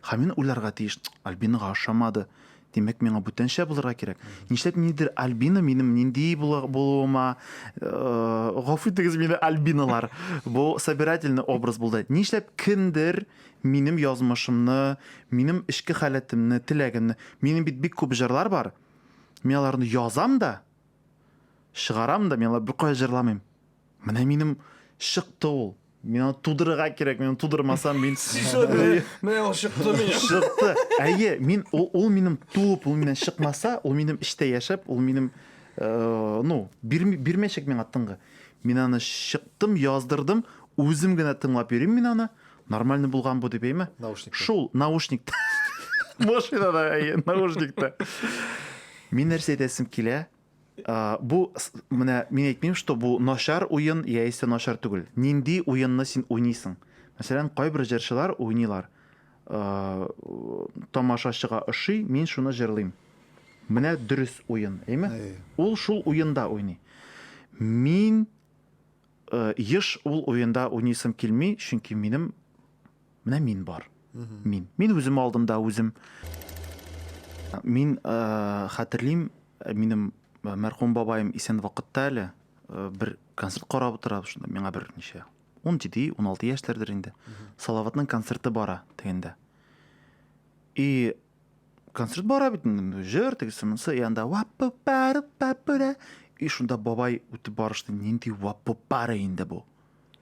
Һәм мин уйларга тиеш, Альбинаға ошамады. Димәк, миңа бүтәнчә булырга кирәк. Нишләп ниндидер Альбина минем нинди булуыма, э, гафу итегез мине, Альбиналар. Бу собирательный образ булды. Нишләп кемдер минем язмышымны, минем эчке халәтемне, теләгемне, минем бит бик күп җырлар бар. Мин аларны язам да, Чыгарам да, мин алар беркая җырламыйм. Менә минем чыкты ул. Мин аны тудырырга кирәк, мин аны тудырмасам, мин... Менә ул чыкты мин. Чыкты. Әйе, мин, ул минем туып, ул мине чыкмаса, ул минем эчтә яшәп, ул минем, э, ну, бирмәчек миңа тыңгы. Мин аны чыктым, яздырдым, үзем генә тыңлап йөрим мин аны, Нормальный булган бу дип әйме? Наушникта. Шул, наушникта. Машинада, әйе, наушникта. Мин нәрсә әйтәсем килә? А, бу, менә, мин әйтмим, что бу нашар уен, яисә нашар түгел. Нинди уенны син уйныйсың? Мәсәлән, кайбер җырчылар уйныйлар. А, тамашачыга ошый, мин шуны җырлыйм. Менә дөрес уен, әйме? Ул шул уенда уйный. Мин Еш ул уенда уйныйсым килми, чөнки минем менә мин бар. Мин. Мин үзем алдында үзем. Мин хәтерлим, минем мәрхүм бабаем исән вакытта әле бер концерт карап утыра, шунда миңа бер ничә 17-16 яшьләрдер инде. Салаватның концерты бара дигәндә. И концерт бара бит инде җыр тегесе монысы янда ваппапарапапара и шунда бабай үтеп барышты нинди ваппапара инде бу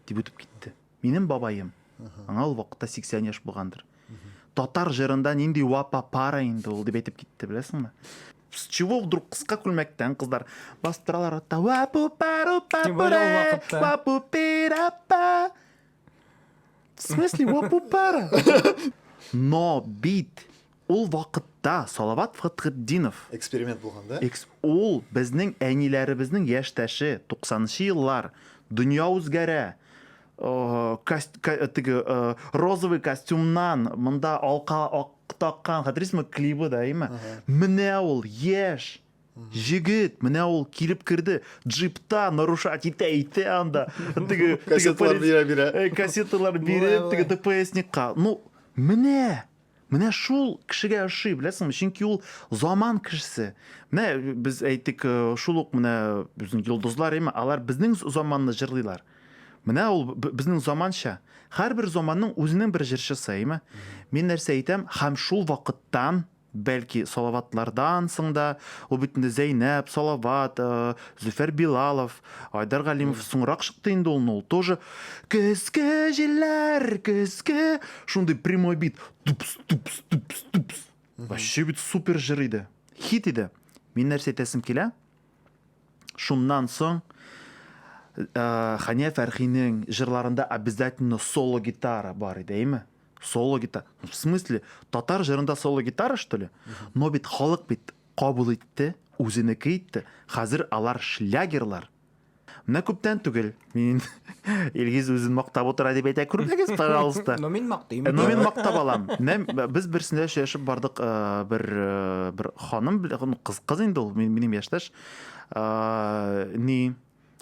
дип үтеп китте минем бабаем аңа ул вакытта сиксән яшь булгандыр татар җырында нинди вапапара инде ул дип әйтеп китте беләсеңме с чего вдруг кыска күлмәктән кызлар бастыралар атта вапупарупапура вапупирапа В смысле, вапупара? Но бит ул вакытта Салават Фатхетдинов Эксперимент булган, да? Экс ул безнең әниләребезнең яшьтәше, 90 нчы еллар, дөнья үзгәрә. Теге розовый костюмнан монда алка ак таккан, хәтерисезме, клибы да, әйеме? Менә ул, яшь! Җегет, менә ул килеп керде, джипта нарушать итә итә анда. Теге кассеталар бирә бирә. Э, кассеталар биреп, теге ДПСникка. Ну, менә Менә шул кешегә ошый, беләсеңме? Чөнки ул заман кешесе. Менә без әйтик, э, шул ук менә безнең йолдызлар, әйме, алар безнең заманны җырлыйлар. Менә ул безнең заманча. Һәрбер заманның үзенең бер җырчысы, әйме? Мин нәрсә әйтәм, һәм шул вакыттан Бәлки, Салаватлардан соң да, ул бит инде Зәйнәп, Салават, Зөфәр Билалов, Айдар Галимов соңрак чыкты инде ул, но ул тоже Көзге җилләр, көзге, шундый прямой бит, тупс, тупс, тупс, тупс. Вообще бит супер җыр иде. Хит иде. Мин нәрсә әйтәсем килә? Шуннан соң Хания Фәрхинең җырларында обязательно соло гитара бар иде, әйме? соло гитара в смысле татар җырында соло гитара что ли но бит халык бит кабул итте үзенеке итте хәзер алар шлягерлар Менә күптән түгел мин Илгиз үзен мактап утыра дип әйтә күрмәгез, пожалуйста. Но мин мактыйм. Но мин мактап алам. Менә без берсендә сөйләшеп бардык, э, бер э, бер ханым, кыз кыз инде ул, минем яшьтәш. Э, ни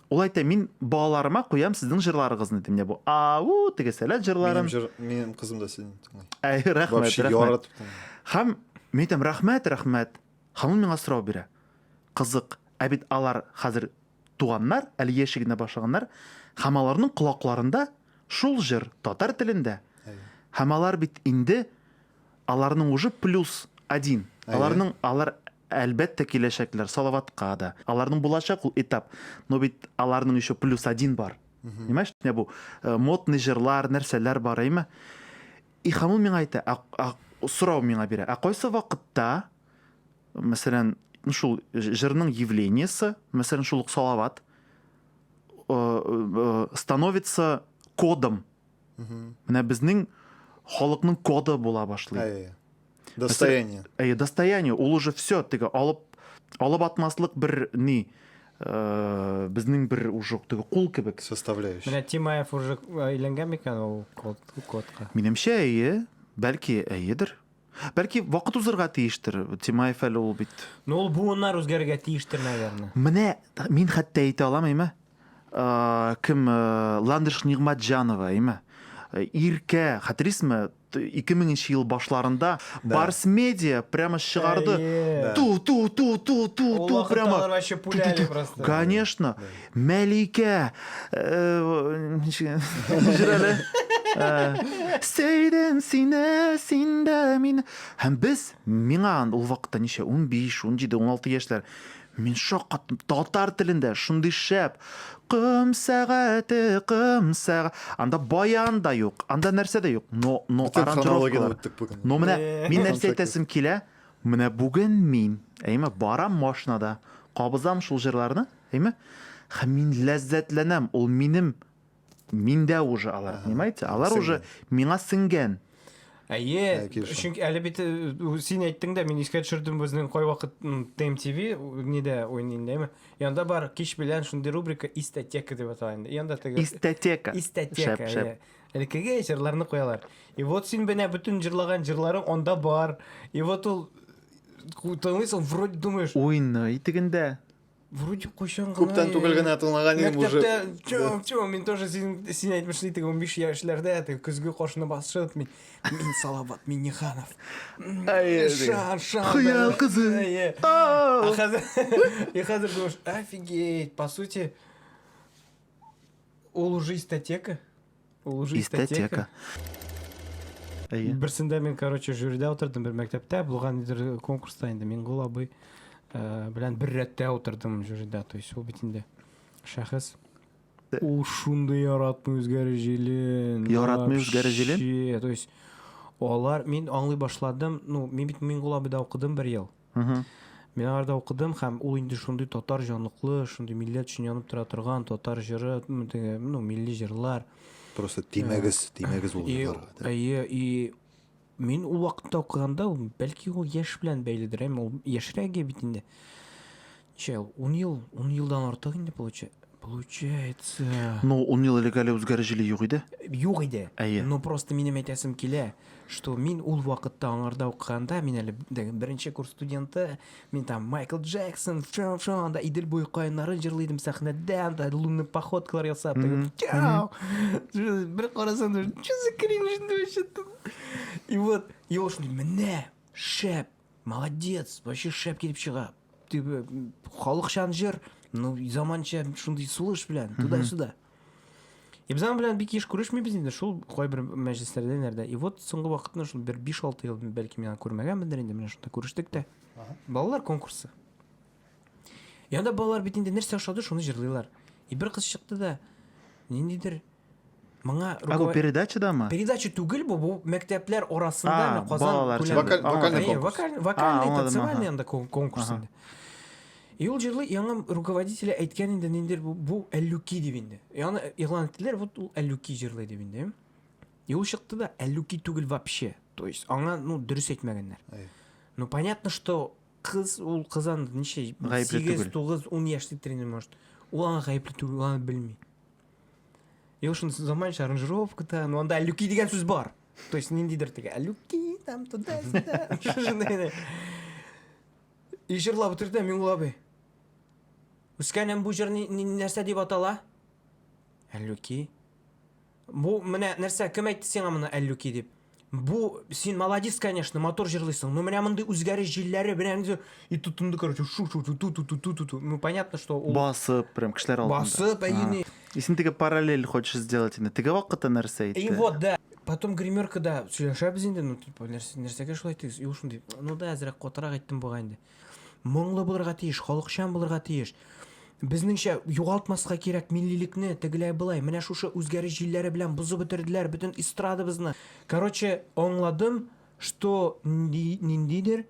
Ул әйтә, мин балаларыма куям сезнең җырларыгызны дип менә бу. Ау, теге сәләт җырларын. Минем җыр, минем кызым да сезне тыңлый. Әй, рәхмәт, Вообще рәхмәт. яратып тыңлый. Һәм мин әйтәм, рәхмәт, рәхмәт. Һәм ул миңа сорау бирә. Кызык, ә бит алар хәзер туганнар, әле яши генә башлаганнар, һәм аларның колакларында шул җыр татар телендә. Әйе. Һәм алар бит инде аларның уже плюс один. Әйе. Аларның алар Әлбәттә, киләчәкләр, Салаватка да. Аларның булачак ул этап. Но бит аларның еще плюс один бар. Понимаешь, менә бу модный җырлар, нәрсәләр бар, әйме? И Хамун миңа әйтә, а, а, сорау миңа бирә. Ә кайсы вакытта, мәсәлән, ну шул җырның явлениесе, мәсәлән, шул ук Салават, э, э, становится кодом. Менә безнең халыкның коды була башлый. Әйе. Достояние. Э, достояние, ул уже все, теге алып, алып атмаслык бер ни, э, безнең бер уже теге кул кебек. Составляющий. Менә Тимаев уже әйләнгән микән ул код, кодка? Минемчә, әйе, бәлки әйедер. Бәлки вакыт узырга тиештер. Тимаев әле ул бит. Ну ул буыннар үзгәрергә тиештер, наверное. Менә мин хәтта әйтә алам, әйме? Э, кем э, Ландыш Нигматҗанова, әйме? Э, Иркә, хәтерисезме, Ике меңенче ел башларында Барс Медиа прямо чыгарды. Ту, ту, ту, ту, ту, ту, прямо. Конечно. Мәликә. Җирәле. Сөйдем сине, син дә мин. Һәм без, миңа ул вакытта ничә, 15, 17, 16 яшьләр. Мин шаккаттым, татар телендә шундый шәп! Ком сәгате, ком сәга... Анда баян да юк, анда нәрсә дә юк, но, но аранжировкалар. Но менә мин нәрсә әйтәсем килә, менә бүген мин, әйме, барам машинада, кабызам шул җырларны, әйме, һәм мин ләззәтләнәм, ул минем Миндә уже алар, ага. понимаете? Алар Сенген. уже миңа сеңгән. Әйе, чөнки әле бит син әйттең дә, мин искә төшердем безнең кайвакыт ТМТВ нидә уйныйын дәме. Янда бар кич белән шундый рубрика Истотека дип атала инде. Янда теге Истотека. Истотека. Әлкеге җырларны куялар. И вот син бенә бүтән җырлаган җырларың анда бар. И вот ул тыңлыйсың, вроде думаешь. Уйны итегендә. Вроде кайчан гына. Күптән түгел генә тыңлаган идем уже. Мәктәптә чоң чоң мин тоже син син әйтмешли идең 15 яшьләрдә әти көзге кошны басып мин мин Салават Минниханов. Шан шан. Хыял кызы. А хәзер и хәзер думаешь, офигеть, по сути ул уже истотека. Лужи истотека. Әйе. Берсендә мин, короче, жюрида утырдым бер мәктәптә, булган идер конкурста инде Мингул абый э, белән бер рәттә утырдым жюрида, то есть ул бит инде шәхес. Ул шундый яратмый үзгәрү җилен. Яратмый үзгәрү җилен? Вообще, То есть алар мин аңлый башладым, ну, мин бит Мингул абыйда укыдым бер ел. Мин арада укыдым һәм ул инде шундый татар җанлыклы, шундый милләт өчен янып тора торган татар җыры, ну, милли җырлар. Просто тимәгез, э, тимәгез ул җырларга. Әйе, и мин ул вакытта укыганда, бәлки ул яшь белән бәйледер, әмма ул яшьрәге бит инде. Че, ун ел, ун елдан артык инде получа- получается. Ну, ун ел элек әле үзгәреш җиле юк иде. Юк иде. Әйе. Но просто минем әйтәсем килә, что мин ул вакытта аңарда укыганда, мин әле дә- беренче курс студенты, мин там Майкл Джексон, шо, шо, анда Идел буе каеннарын җырлыйдым сәхнәдә, анда лунный походкалар ясап, такой, «Чау!» бер карасаң, думаешь, что за кринж инде вообще тут? И вот, и ул шундый, менә, шәп, Молодец, вообще шәп килеп чыга. Типа халыкчан җыр, ну заманча шундый сулыш белән туда-сюда. И без аның белән бик еш күрешмибез инде шул кайбер мәҗлесләрдә нәрдә. И вот соңгы вакытны шул бер 5-6 ел бәлки мин аны күрмәгәнмендер инде, менә шунда күрештек тә. Балалар конкурсы. Янда балалар бит инде нәрсә ошады, шуны җырлыйлар. И бер кыз чыкты да ниндидер Моңа Ә бу передачадамы? Передача түгел бу, бу мәктәпләр арасында Казан күләмендә. Вокальный танцевальный анда конкурс инде. И ул җырлый, яңа руководителе әйткән инде, ниндер бу, бу Әллүки дип инде. Яны игълан иттеләр, вот ул Әллүки җырлый дип инде. И ул чыкты да Әллүки түгел вообще. То есть аңа, ну, дөрес әйтмәгәннәр. Ну, понятно, что кыз, ул кыз анда ничә, 8, 9, 10 яшьлек тренер, может. Ул аңа гаепле түгел, ул аны белми. Юк, шуны заманча аранжировка да, но анда люки дигән сүз бар. То есть ниндидер теге люки там туда сюда. Шушындый. И җырлап утырды Миңгул абый. Үскәнем бу җыр нәрсә дип атала? Әллүки. Бу менә нәрсә кем әйтте сиңа моны Әллүки дип? Бу син молодец, конечно, мотор җырлыйсың. Ну менә мондый үзгәреш җилләре белән инде и тут инде короче шу шу ту ту ту ту ту ту. Ну понятно, что ул Басып, прям кешеләр алдында. Басып, әйе. И син теге параллель хочешь сделать инде. Теге вакытта нәрсә итте? И вот да. Потом гримеркада сөйләшәбез инде, ну типа нәрсә нәрсәгә шулай тез? И ул шундый, ну да, әзрәк котырак әйттем бугай инде. Моңлы булырга тиеш, халыкчан булырга тиеш. Безнеңчә югалтмаска кирәк миллилекне, тегеләй былай. Менә шушы үзгәреш җилләре белән бозып бетерделәр бөтен эстрадабызны. Короче, аңладым, что ниндидер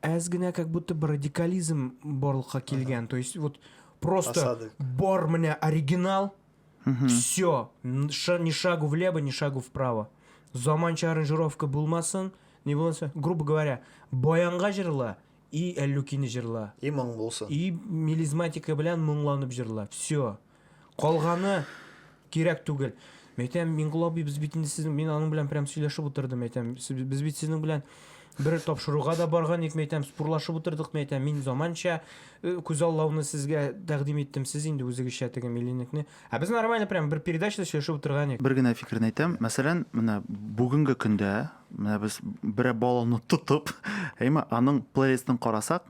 әз генә как будто бы радикализм барлыкка килгән. То есть вот просто бар менә оригинал, Угу. Все. Ни шагу влево, ни шагу вправо. Заманча аранжировка булмасын, не булмаса, грубо говоря, баянга җырла и әллүкине җырла. И моң булсын. И мелизматика белән моңланып җырла. Все. Калганы кирәк түгел. Мәйтәм, Миңгол абый, без бит инде сезнең, мин аның белән прям сөйләшеп утырдым, мәйтәм, без бит сезнең белән бер тапшыруга да барган идек, мәйтәм, спурлашып утырдык, мәйтәм, мин заманча Э, күзаллауны сезгә тәкъдим иттем, сез инде үзегезчә теге миллилекне. Ә без нормально прям бер передачада сөйләшеп утырган идек. Бер генә фикерне әйтәм. Мәсәлән, менә бүгенге көндә менә без берәр баланы тотып, әйме, аның плейлистын карасак,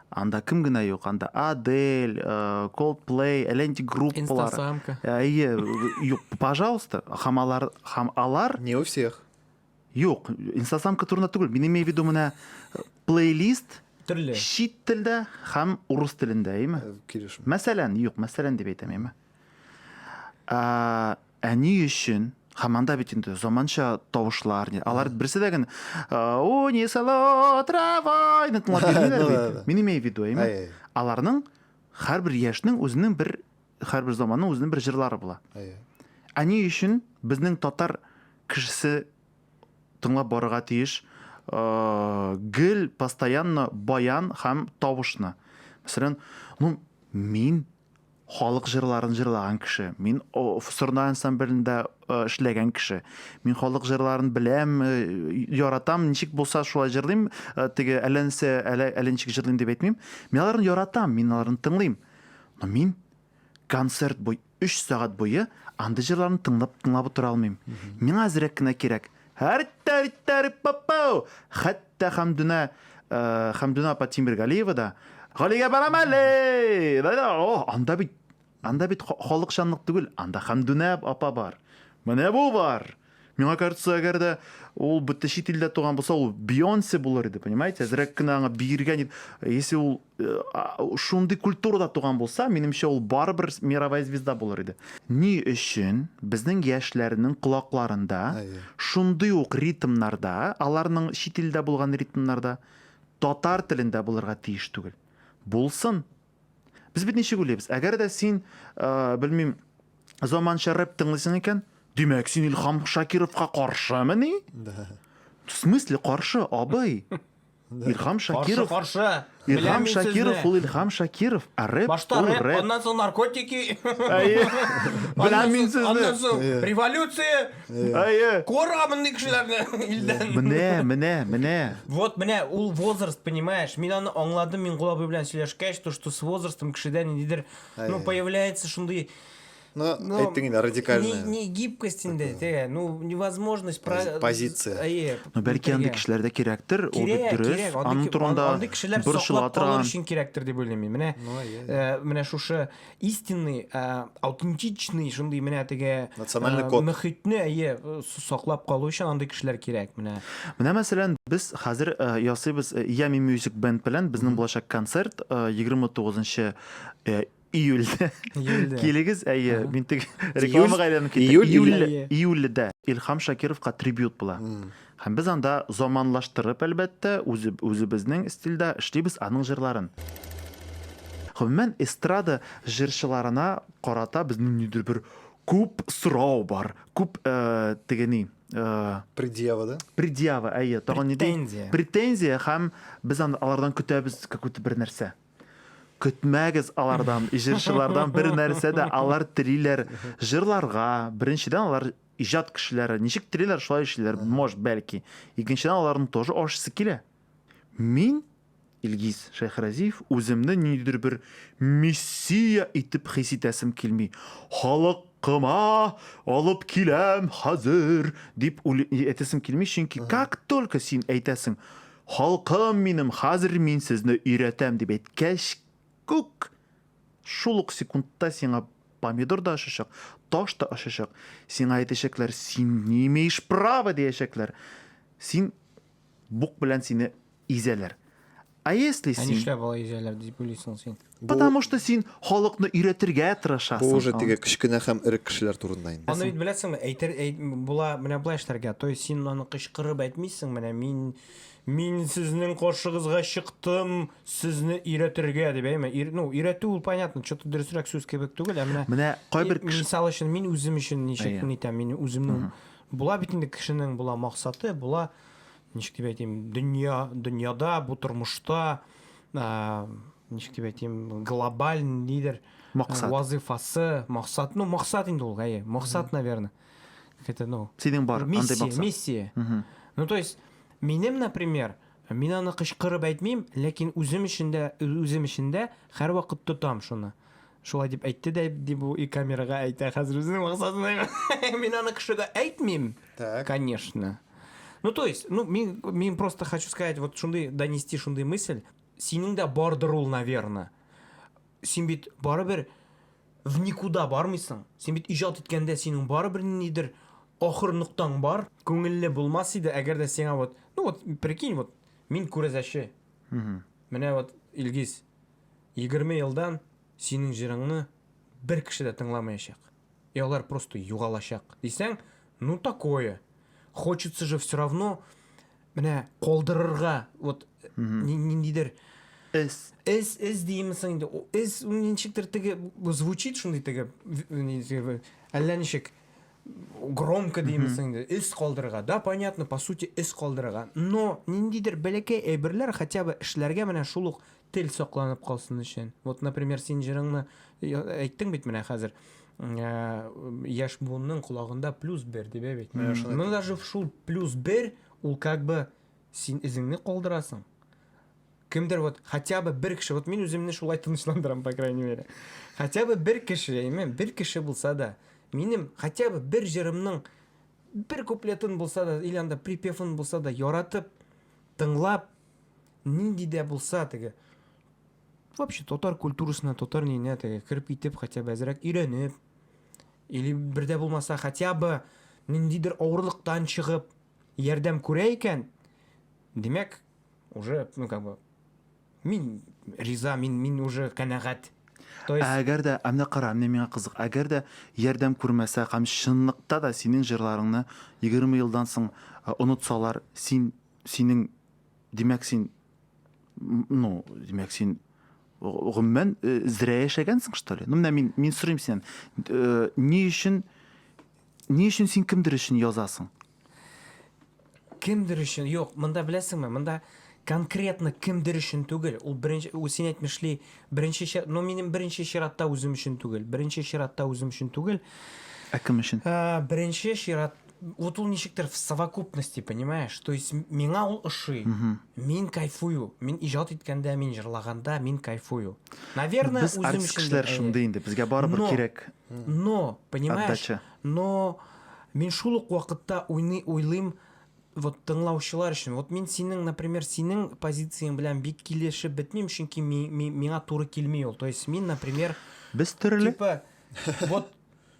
анда кем генә юк, анда Адель, э, Coldplay, әллә нинди группалар. Инстасамка. Әйе, юк, пожалуйста, хамалар, хам алар. Не у всех. Юк, инстасамка турында түгел. Мин имею в виду менә э, плейлист Төрле. чит телдә һәм урыс телендә, әйме? Э, Килешм. Мәсәлән, юк, мәсәлән дип әйтәм, әйме? А, ә ни өчен? Һәм анда бит инде заманча тавышлар, ни- алар берсе дә генә а, унесла трава дип тыңлап йөрмиләр Ну, да, да. бит. Мин имею в виду, әйме? Ай, ай. Аларның һәрбер яшьнең үзенең бер Һәрбер заманның үзенең бер җырлары була. Әйе. Ә ни өчен безнең татар кешесе тыңлап барырга тиеш э, гел постоянно баян һәм тавышны? Мәсәлән, ну, мин халык җырларын җырлаган кеше, мин Сорна ансамблендә э, эшләгән кеше. Мин халык җырларын беләм, э, яратам, ничек булса шулай җырлыйм, теге әләнсә әлә әле ничек җырлыйм дип әйтмим. Мин аларны яратам, мин аларны тыңлыйм. Но мин концерт буй 3 сәгать буе андый җырларны тыңлап тыңлап утыра алмыйм. Миңа әзрәк кенә кирәк. Һәрттәрттәр папау! Хәтта Хәмдүнә э, Хәмдүнә апа Тимергалиева да Галигә барам әле! О, анда бит анда бит халыкчанлык түгел, анда Хәмдүнә апа бар. Менә бу бар. Миңа кажется, әгәр дә ул бөтә чит илдә туган булса, ул Бейонсе булыр иде, понимаете? Әзрәк кенә аңа бигергән иде. Если ул э, шундый культурада туган булса, минемчә ул барыбер мировая звезда булыр иде. Ни өчен безнең яшьләрнең колакларында шундый ук ритмнарда, аларның чит илдә булган ритмнарда татар телендә булырга тиеш түгел? Булсын, Без бит ничек уйлыйбыз? Әгәр дә син, белмим, заманча рэп тыңлыйсың икән, димәк, син Илхам Шакировка каршымыни? Да. В смысле каршы, абый? Илхам Шакиров. Каршы, каршы. Илхам Шакиров ул Илхам Шакиров. А рэп Башта ул рэп, аннан соң наркотики. Беләм мин сезне. Аннан соң революция. Әйе. Кора мондый кешеләрне илдән. Менә, менә, менә. Вот менә ул возраст, понимаешь? Мин аны аңладым, мин Гулабый белән сөйләшкәч, то что с возрастом кешедә ниндидер, ну, появляется шундый Ну, ну әйттең инде радикальная. Не, не гибкость инде, теге, ну, невозможность позиция. Әйе. Ну, бәлки андый кешеләрдә кирәктер, ул бит дөрес. Аның турында борчыла торган. Кирәк, кирәк, өчен кирәктер дип уйлыйм мин. Менә, ну, э, менә шушы истинный ә, аутентичный шундый менә теге национальный код мөхитне әйе саклап калу өчен андый кешеләр кирәк менә менә мәсәлән без хәзер ә, ясыйбыз ями мюзик бенд белән безнең булачак концерт ә, 29 июльдә килегез әйе мин теге рекламага әйләнеп киттем июльдә илхам шакировка трибют була Һәм без анда заманлаштырып, әлбәттә, үзебезнең стильдә эшлибез аның җырларын. Гомумән, эстрада җырчыларына карата безнең нидер бер күп сорау бар, күп тегени. Предъява, да? Предъява, әйе. Тагын нидер? Претензия. Претензия һәм без аны алардан көтәбез какой-то бер нәрсә. Көтмәгез алардан, җырчылардан бер нәрсә дә, алар телиләр җырларга. Беренчедән, алар Иҗат кешеләре ничек телиләр, шулай эшлиләр, может, бәлки. Икенчедән, аларның тоже ашыйсы килә. Мин, Илгиз Шәйхразиев, үземне ниндидер бер миссия итеп хис итәсем килми. Халыкыма алып киләм хәзер! дип әйтәсем килми, чөнки как только син әйтәсең, халкым минем, хәзер мин сезне өйрәтәм, дип әйткәч үк, Шул ук секундта сиңа помидор да очачак, таш та очачак. Сиңа әйтәчәкләр, син не имеешь права, диячәкләр. Син бук белән сине изәләр. А если син... Ә нишләп алай изәләр дип уйлыйсың син? Потому что син халыкны өйрәтергә тырышасың. Бу уже теге кечкенә һәм эре кешеләр турында инде. Аны бит беләсеңме? Әйтер, әйт, була, менә булай эшләргә. То есть син аны кычкырып әйтмисең, менә мин мин сезнең каршыгызга чыктым, Сезне өйрәтергә дип әйме? Ир, ну, өйрәтү ул понятно, что-то дөресрәк сүз кебек түгел, ә менә Менә кайбер кеше мисал өчен мин үзем өчен ничек нитәм, мин үземнең була бит инде кешенең була максаты, була ничек дип әйтим, дөнья, дөньяда, бу тормышта, ничек дип әйтим, глобаль нидер максат. Вазыйфасы, максат, ну, максат инде ул, әйе, максат, наверное. Это, ну, Синең бар, андый максат. Миссия, миссия. Ну, то есть, минем, например, Мин аны кычкырып әйтмим, ләкин үзем өчен дә, үзем өчен дә һәрвакыт тотам шуны. Шулай дип әйтте дә, дип бу и камерага әйтә хәзер үзенең максатын. Мин аны кешегә әйтмим. Так. Конечно. Ну, то есть, ну, мин, мин просто хочу сказать, вот шундый донести шундый мысль. Синең дә бардыр ул, наверное. Син бит барыбер в никуда бармыйсың. Син бит иҗат иткәндә синең барыбер ниндидер ахыр ноктаң бар. Күңелле булмас иде, әгәр дә сиңа вот, ну вот прикинь, вот мин күрәзәче. Менә вот Илгиз 20 елдан синең җырыңны бер кеше дә тыңламаячак. И алар просто югалачак. Дисәң, ну такое. Хочется же всё равно менә калдырырга вот ниндидер эз эз эз деймме соң инде эз ничектер теге звучит шундый теге әллә ничек громко деймме соң инде эз калдырырга да понятно по сути эз калдырырга но ниндидер бәләкәй әйберләр хотя бы эшләргә менә шул ук тел сакланып калсын өчен вот например син җырыңны әйттең бит менә хәзер Ә, яшь буынның колагында плюс бер дип әйт. Мин даже шул плюс бер ул как бы син эзеңне калдырасың. Кемдер вот хотя бы бер кеше, вот мин үземне шулай тынычландырам, по крайней мере. Хотя бы бер кеше, әйме, бер кеше булса да, минем хотя бы бер җырымның бер куплетын булса да, или анда припевын булса да яратып, тыңлап, нинди дә булса теге Вообще татар культурасына, татар нигенә теге кереп китеп, хотя бы әзрәк өйрәнеп, или бер дә булмаса хотя бы ниндидер авырлыктан чыгып, ярдәм күрә икән, димәк, уже, ну как бы, мин риза, мин, мин уже канәгать. То есть... Ә әгәр дә, ә менә кара, менә миңа кызык, әгәр дә ярдәм күрмәсә һәм чынлыкта да синең җырларыңны 20 елдан соң онытсалар, син, синең, димәк, син ну демәк син гомумән э, зря яшәгәнсең что ли ну менә мин мин сорыйм синнән э, ни өчен ни өчен син кемдер өчен язасың кемдер өчен юк монда беләсеңме монда конкретно кемдер өчен түгел ул беренче ул син әйтмешли беренче ну минем беренче чиратта үзем өчен түгел беренче чиратта үзем өчен түгел ә кем өчен ә, беренче чират вот ул ничектер в совокупности понимаешь то есть миңа ул ошый мин кайфую мин иҗат иткәндә мин җырлаганда мин кайфую наверное без артист кешеләр шундый инде безгә барыбер кирәк но понимаешь но мин шул ук вакытта уйный уйлыйм вот тыңлаучылар өчен вот мин синең например синең позицияң белән бик килешеп бетмим чөнки миңа туры килми ул то есть мин например без төрле типа вот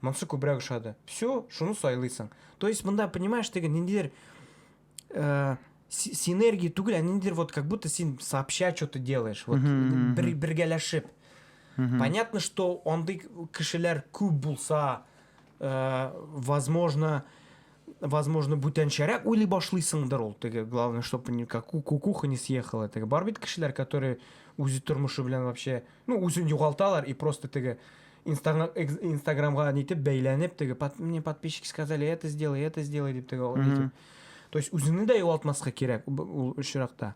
Монсы күбрәк ошады. Все, шуны сайлыйсың. То есть монда понимаешь теге ниндидер э, синергия түгел, ә ниндидер вот как будто син сообща что-то делаешь. Вот бер, бергәләшеп. Понятно, что андый кешеләр күп булса, э, возможно, возможно, бүтәнчәрәк уйлый башлыйсыңдыр ул теге, главное, чтобы не как кукуха не съехала. Теге бар бит кешеләр, которые үзе тормышы белән вообще, ну, үзен югалталар и просто теге инстаграмга нитеп бәйләнеп теге под, мне подписчики сказали это сделай это сделай дип теге mm -hmm. то есть үзеңне дә югалтмаска кирәк ул очракта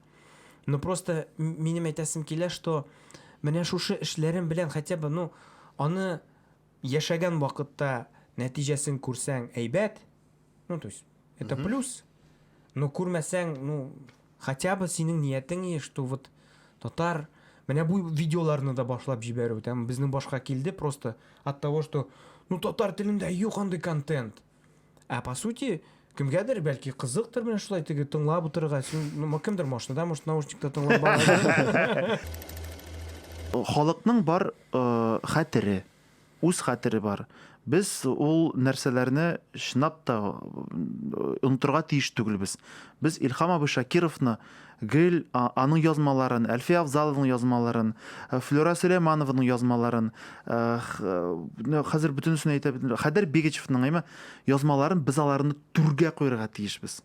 но просто минем әйтәсем килә что менә шушы эшләрем белән хотя бы ну аны Яшәгән вакытта нәтиҗәсен күрсәң әйбәт, ну то есть это плюс, но күрмәсәң, ну хотя бы синең ниятең еш, что вот татар менә бу видеоларны да башлап җибәрү, там безнең башка килде просто от того, что ну татар телендә юк андый контент. Ә по сути, кемгәдер бәлки кызыктыр менә шулай теге тыңлап утырырга. Син ну, кемдер машинада, может, наушникта тыңлап бара. Халыкның бар э, хәтере, үз хәтере бар. Без ул нәрсәләрне чынлап та э, онытырга тиеш түгелбез. Без Илһам абый Шакировны Гел аның язмаларын, Әлфия Авзалованың язмаларын, Флюра Сөләйманованың язмаларын, хәзер бөтенесен әйтә Хәдер Бигичевның әйме язмаларын без аларны түргә куярга тиешбез.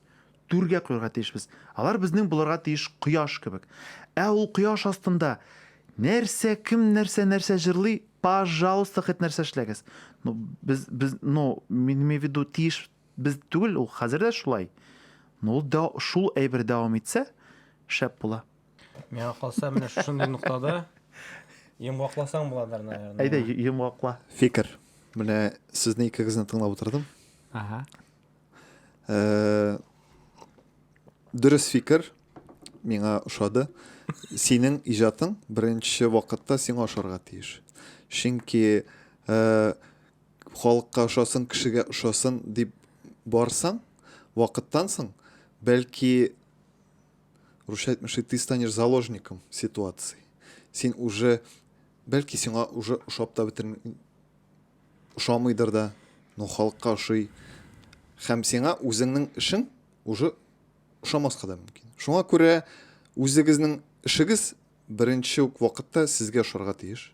Түргә куярга тиешбез. Алар безнең булырга тиеш кояш кебек. Ә ул кояш астында нәрсә, кем нәрсә, нәрсә җырлый, пожалуйста, хет нәрсә эшләгез. Ну, без, без, ну, мин имею в виду, тиеш, Без түгел, ул хәзер дә шулай. Но ул да шул әйбер дәвам итсә, шәп була. Миңа калса, менә шушындый ноктада йомгакласаң буладыр, наверное. Әйдә, йомгакла. Фикер. Менә сезне икегезне тыңлап утырдым. Ага. Э, дөрес фикер. Миңа ошады. Синең иҗатың беренче вакытта сиңа ошарга тиеш. Чөнки э, халыкка ошасын, кешегә ошасын дип барсаң, вакыттан соң, бәлки, русча әйтмешли, ты станешь заложником ситуации. Син уже, бәлки, сиңа уже ошап та бетер, ошамыйдыр да, но халыкка ошый. Хәм сиңа үзеңнең эшең уже ошамаска да мөмкин. Шуңа күрә үзегезнең эшегез беренче үк вакытта сезгә ошарга тиеш.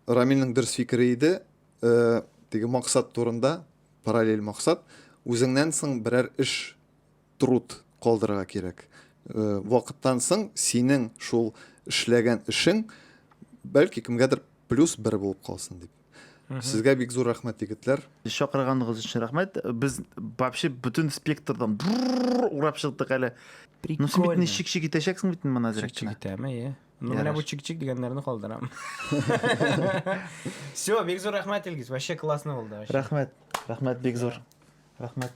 Рамилнең дөрс фикере иде, э, теге максат турында, параллель максат, үзеңнән соң берәр эш, труд калдырырга кирәк. Э, вакыттан соң синең шул эшләгән эшең бәлки кемгәдер плюс бер булып калсын дип. Сезгә бик зур рәхмәт, егетләр. Чакырганыгыз өчен рәхмәт. Без вообще бөтен спектрдан урап чыктык әле. Ну, син бит Прикольно. ничек чик итәчәксең бит моны Чик-чик әзрәк. итәме, е? Ну, менә бу чик-чик дигәннәрне калдырам. Все, бик зур рәхмәт, Илгиз. Вообще классно булды. вообще. Рәхмәт. Рәхмәт бик зур. Рәхмәт.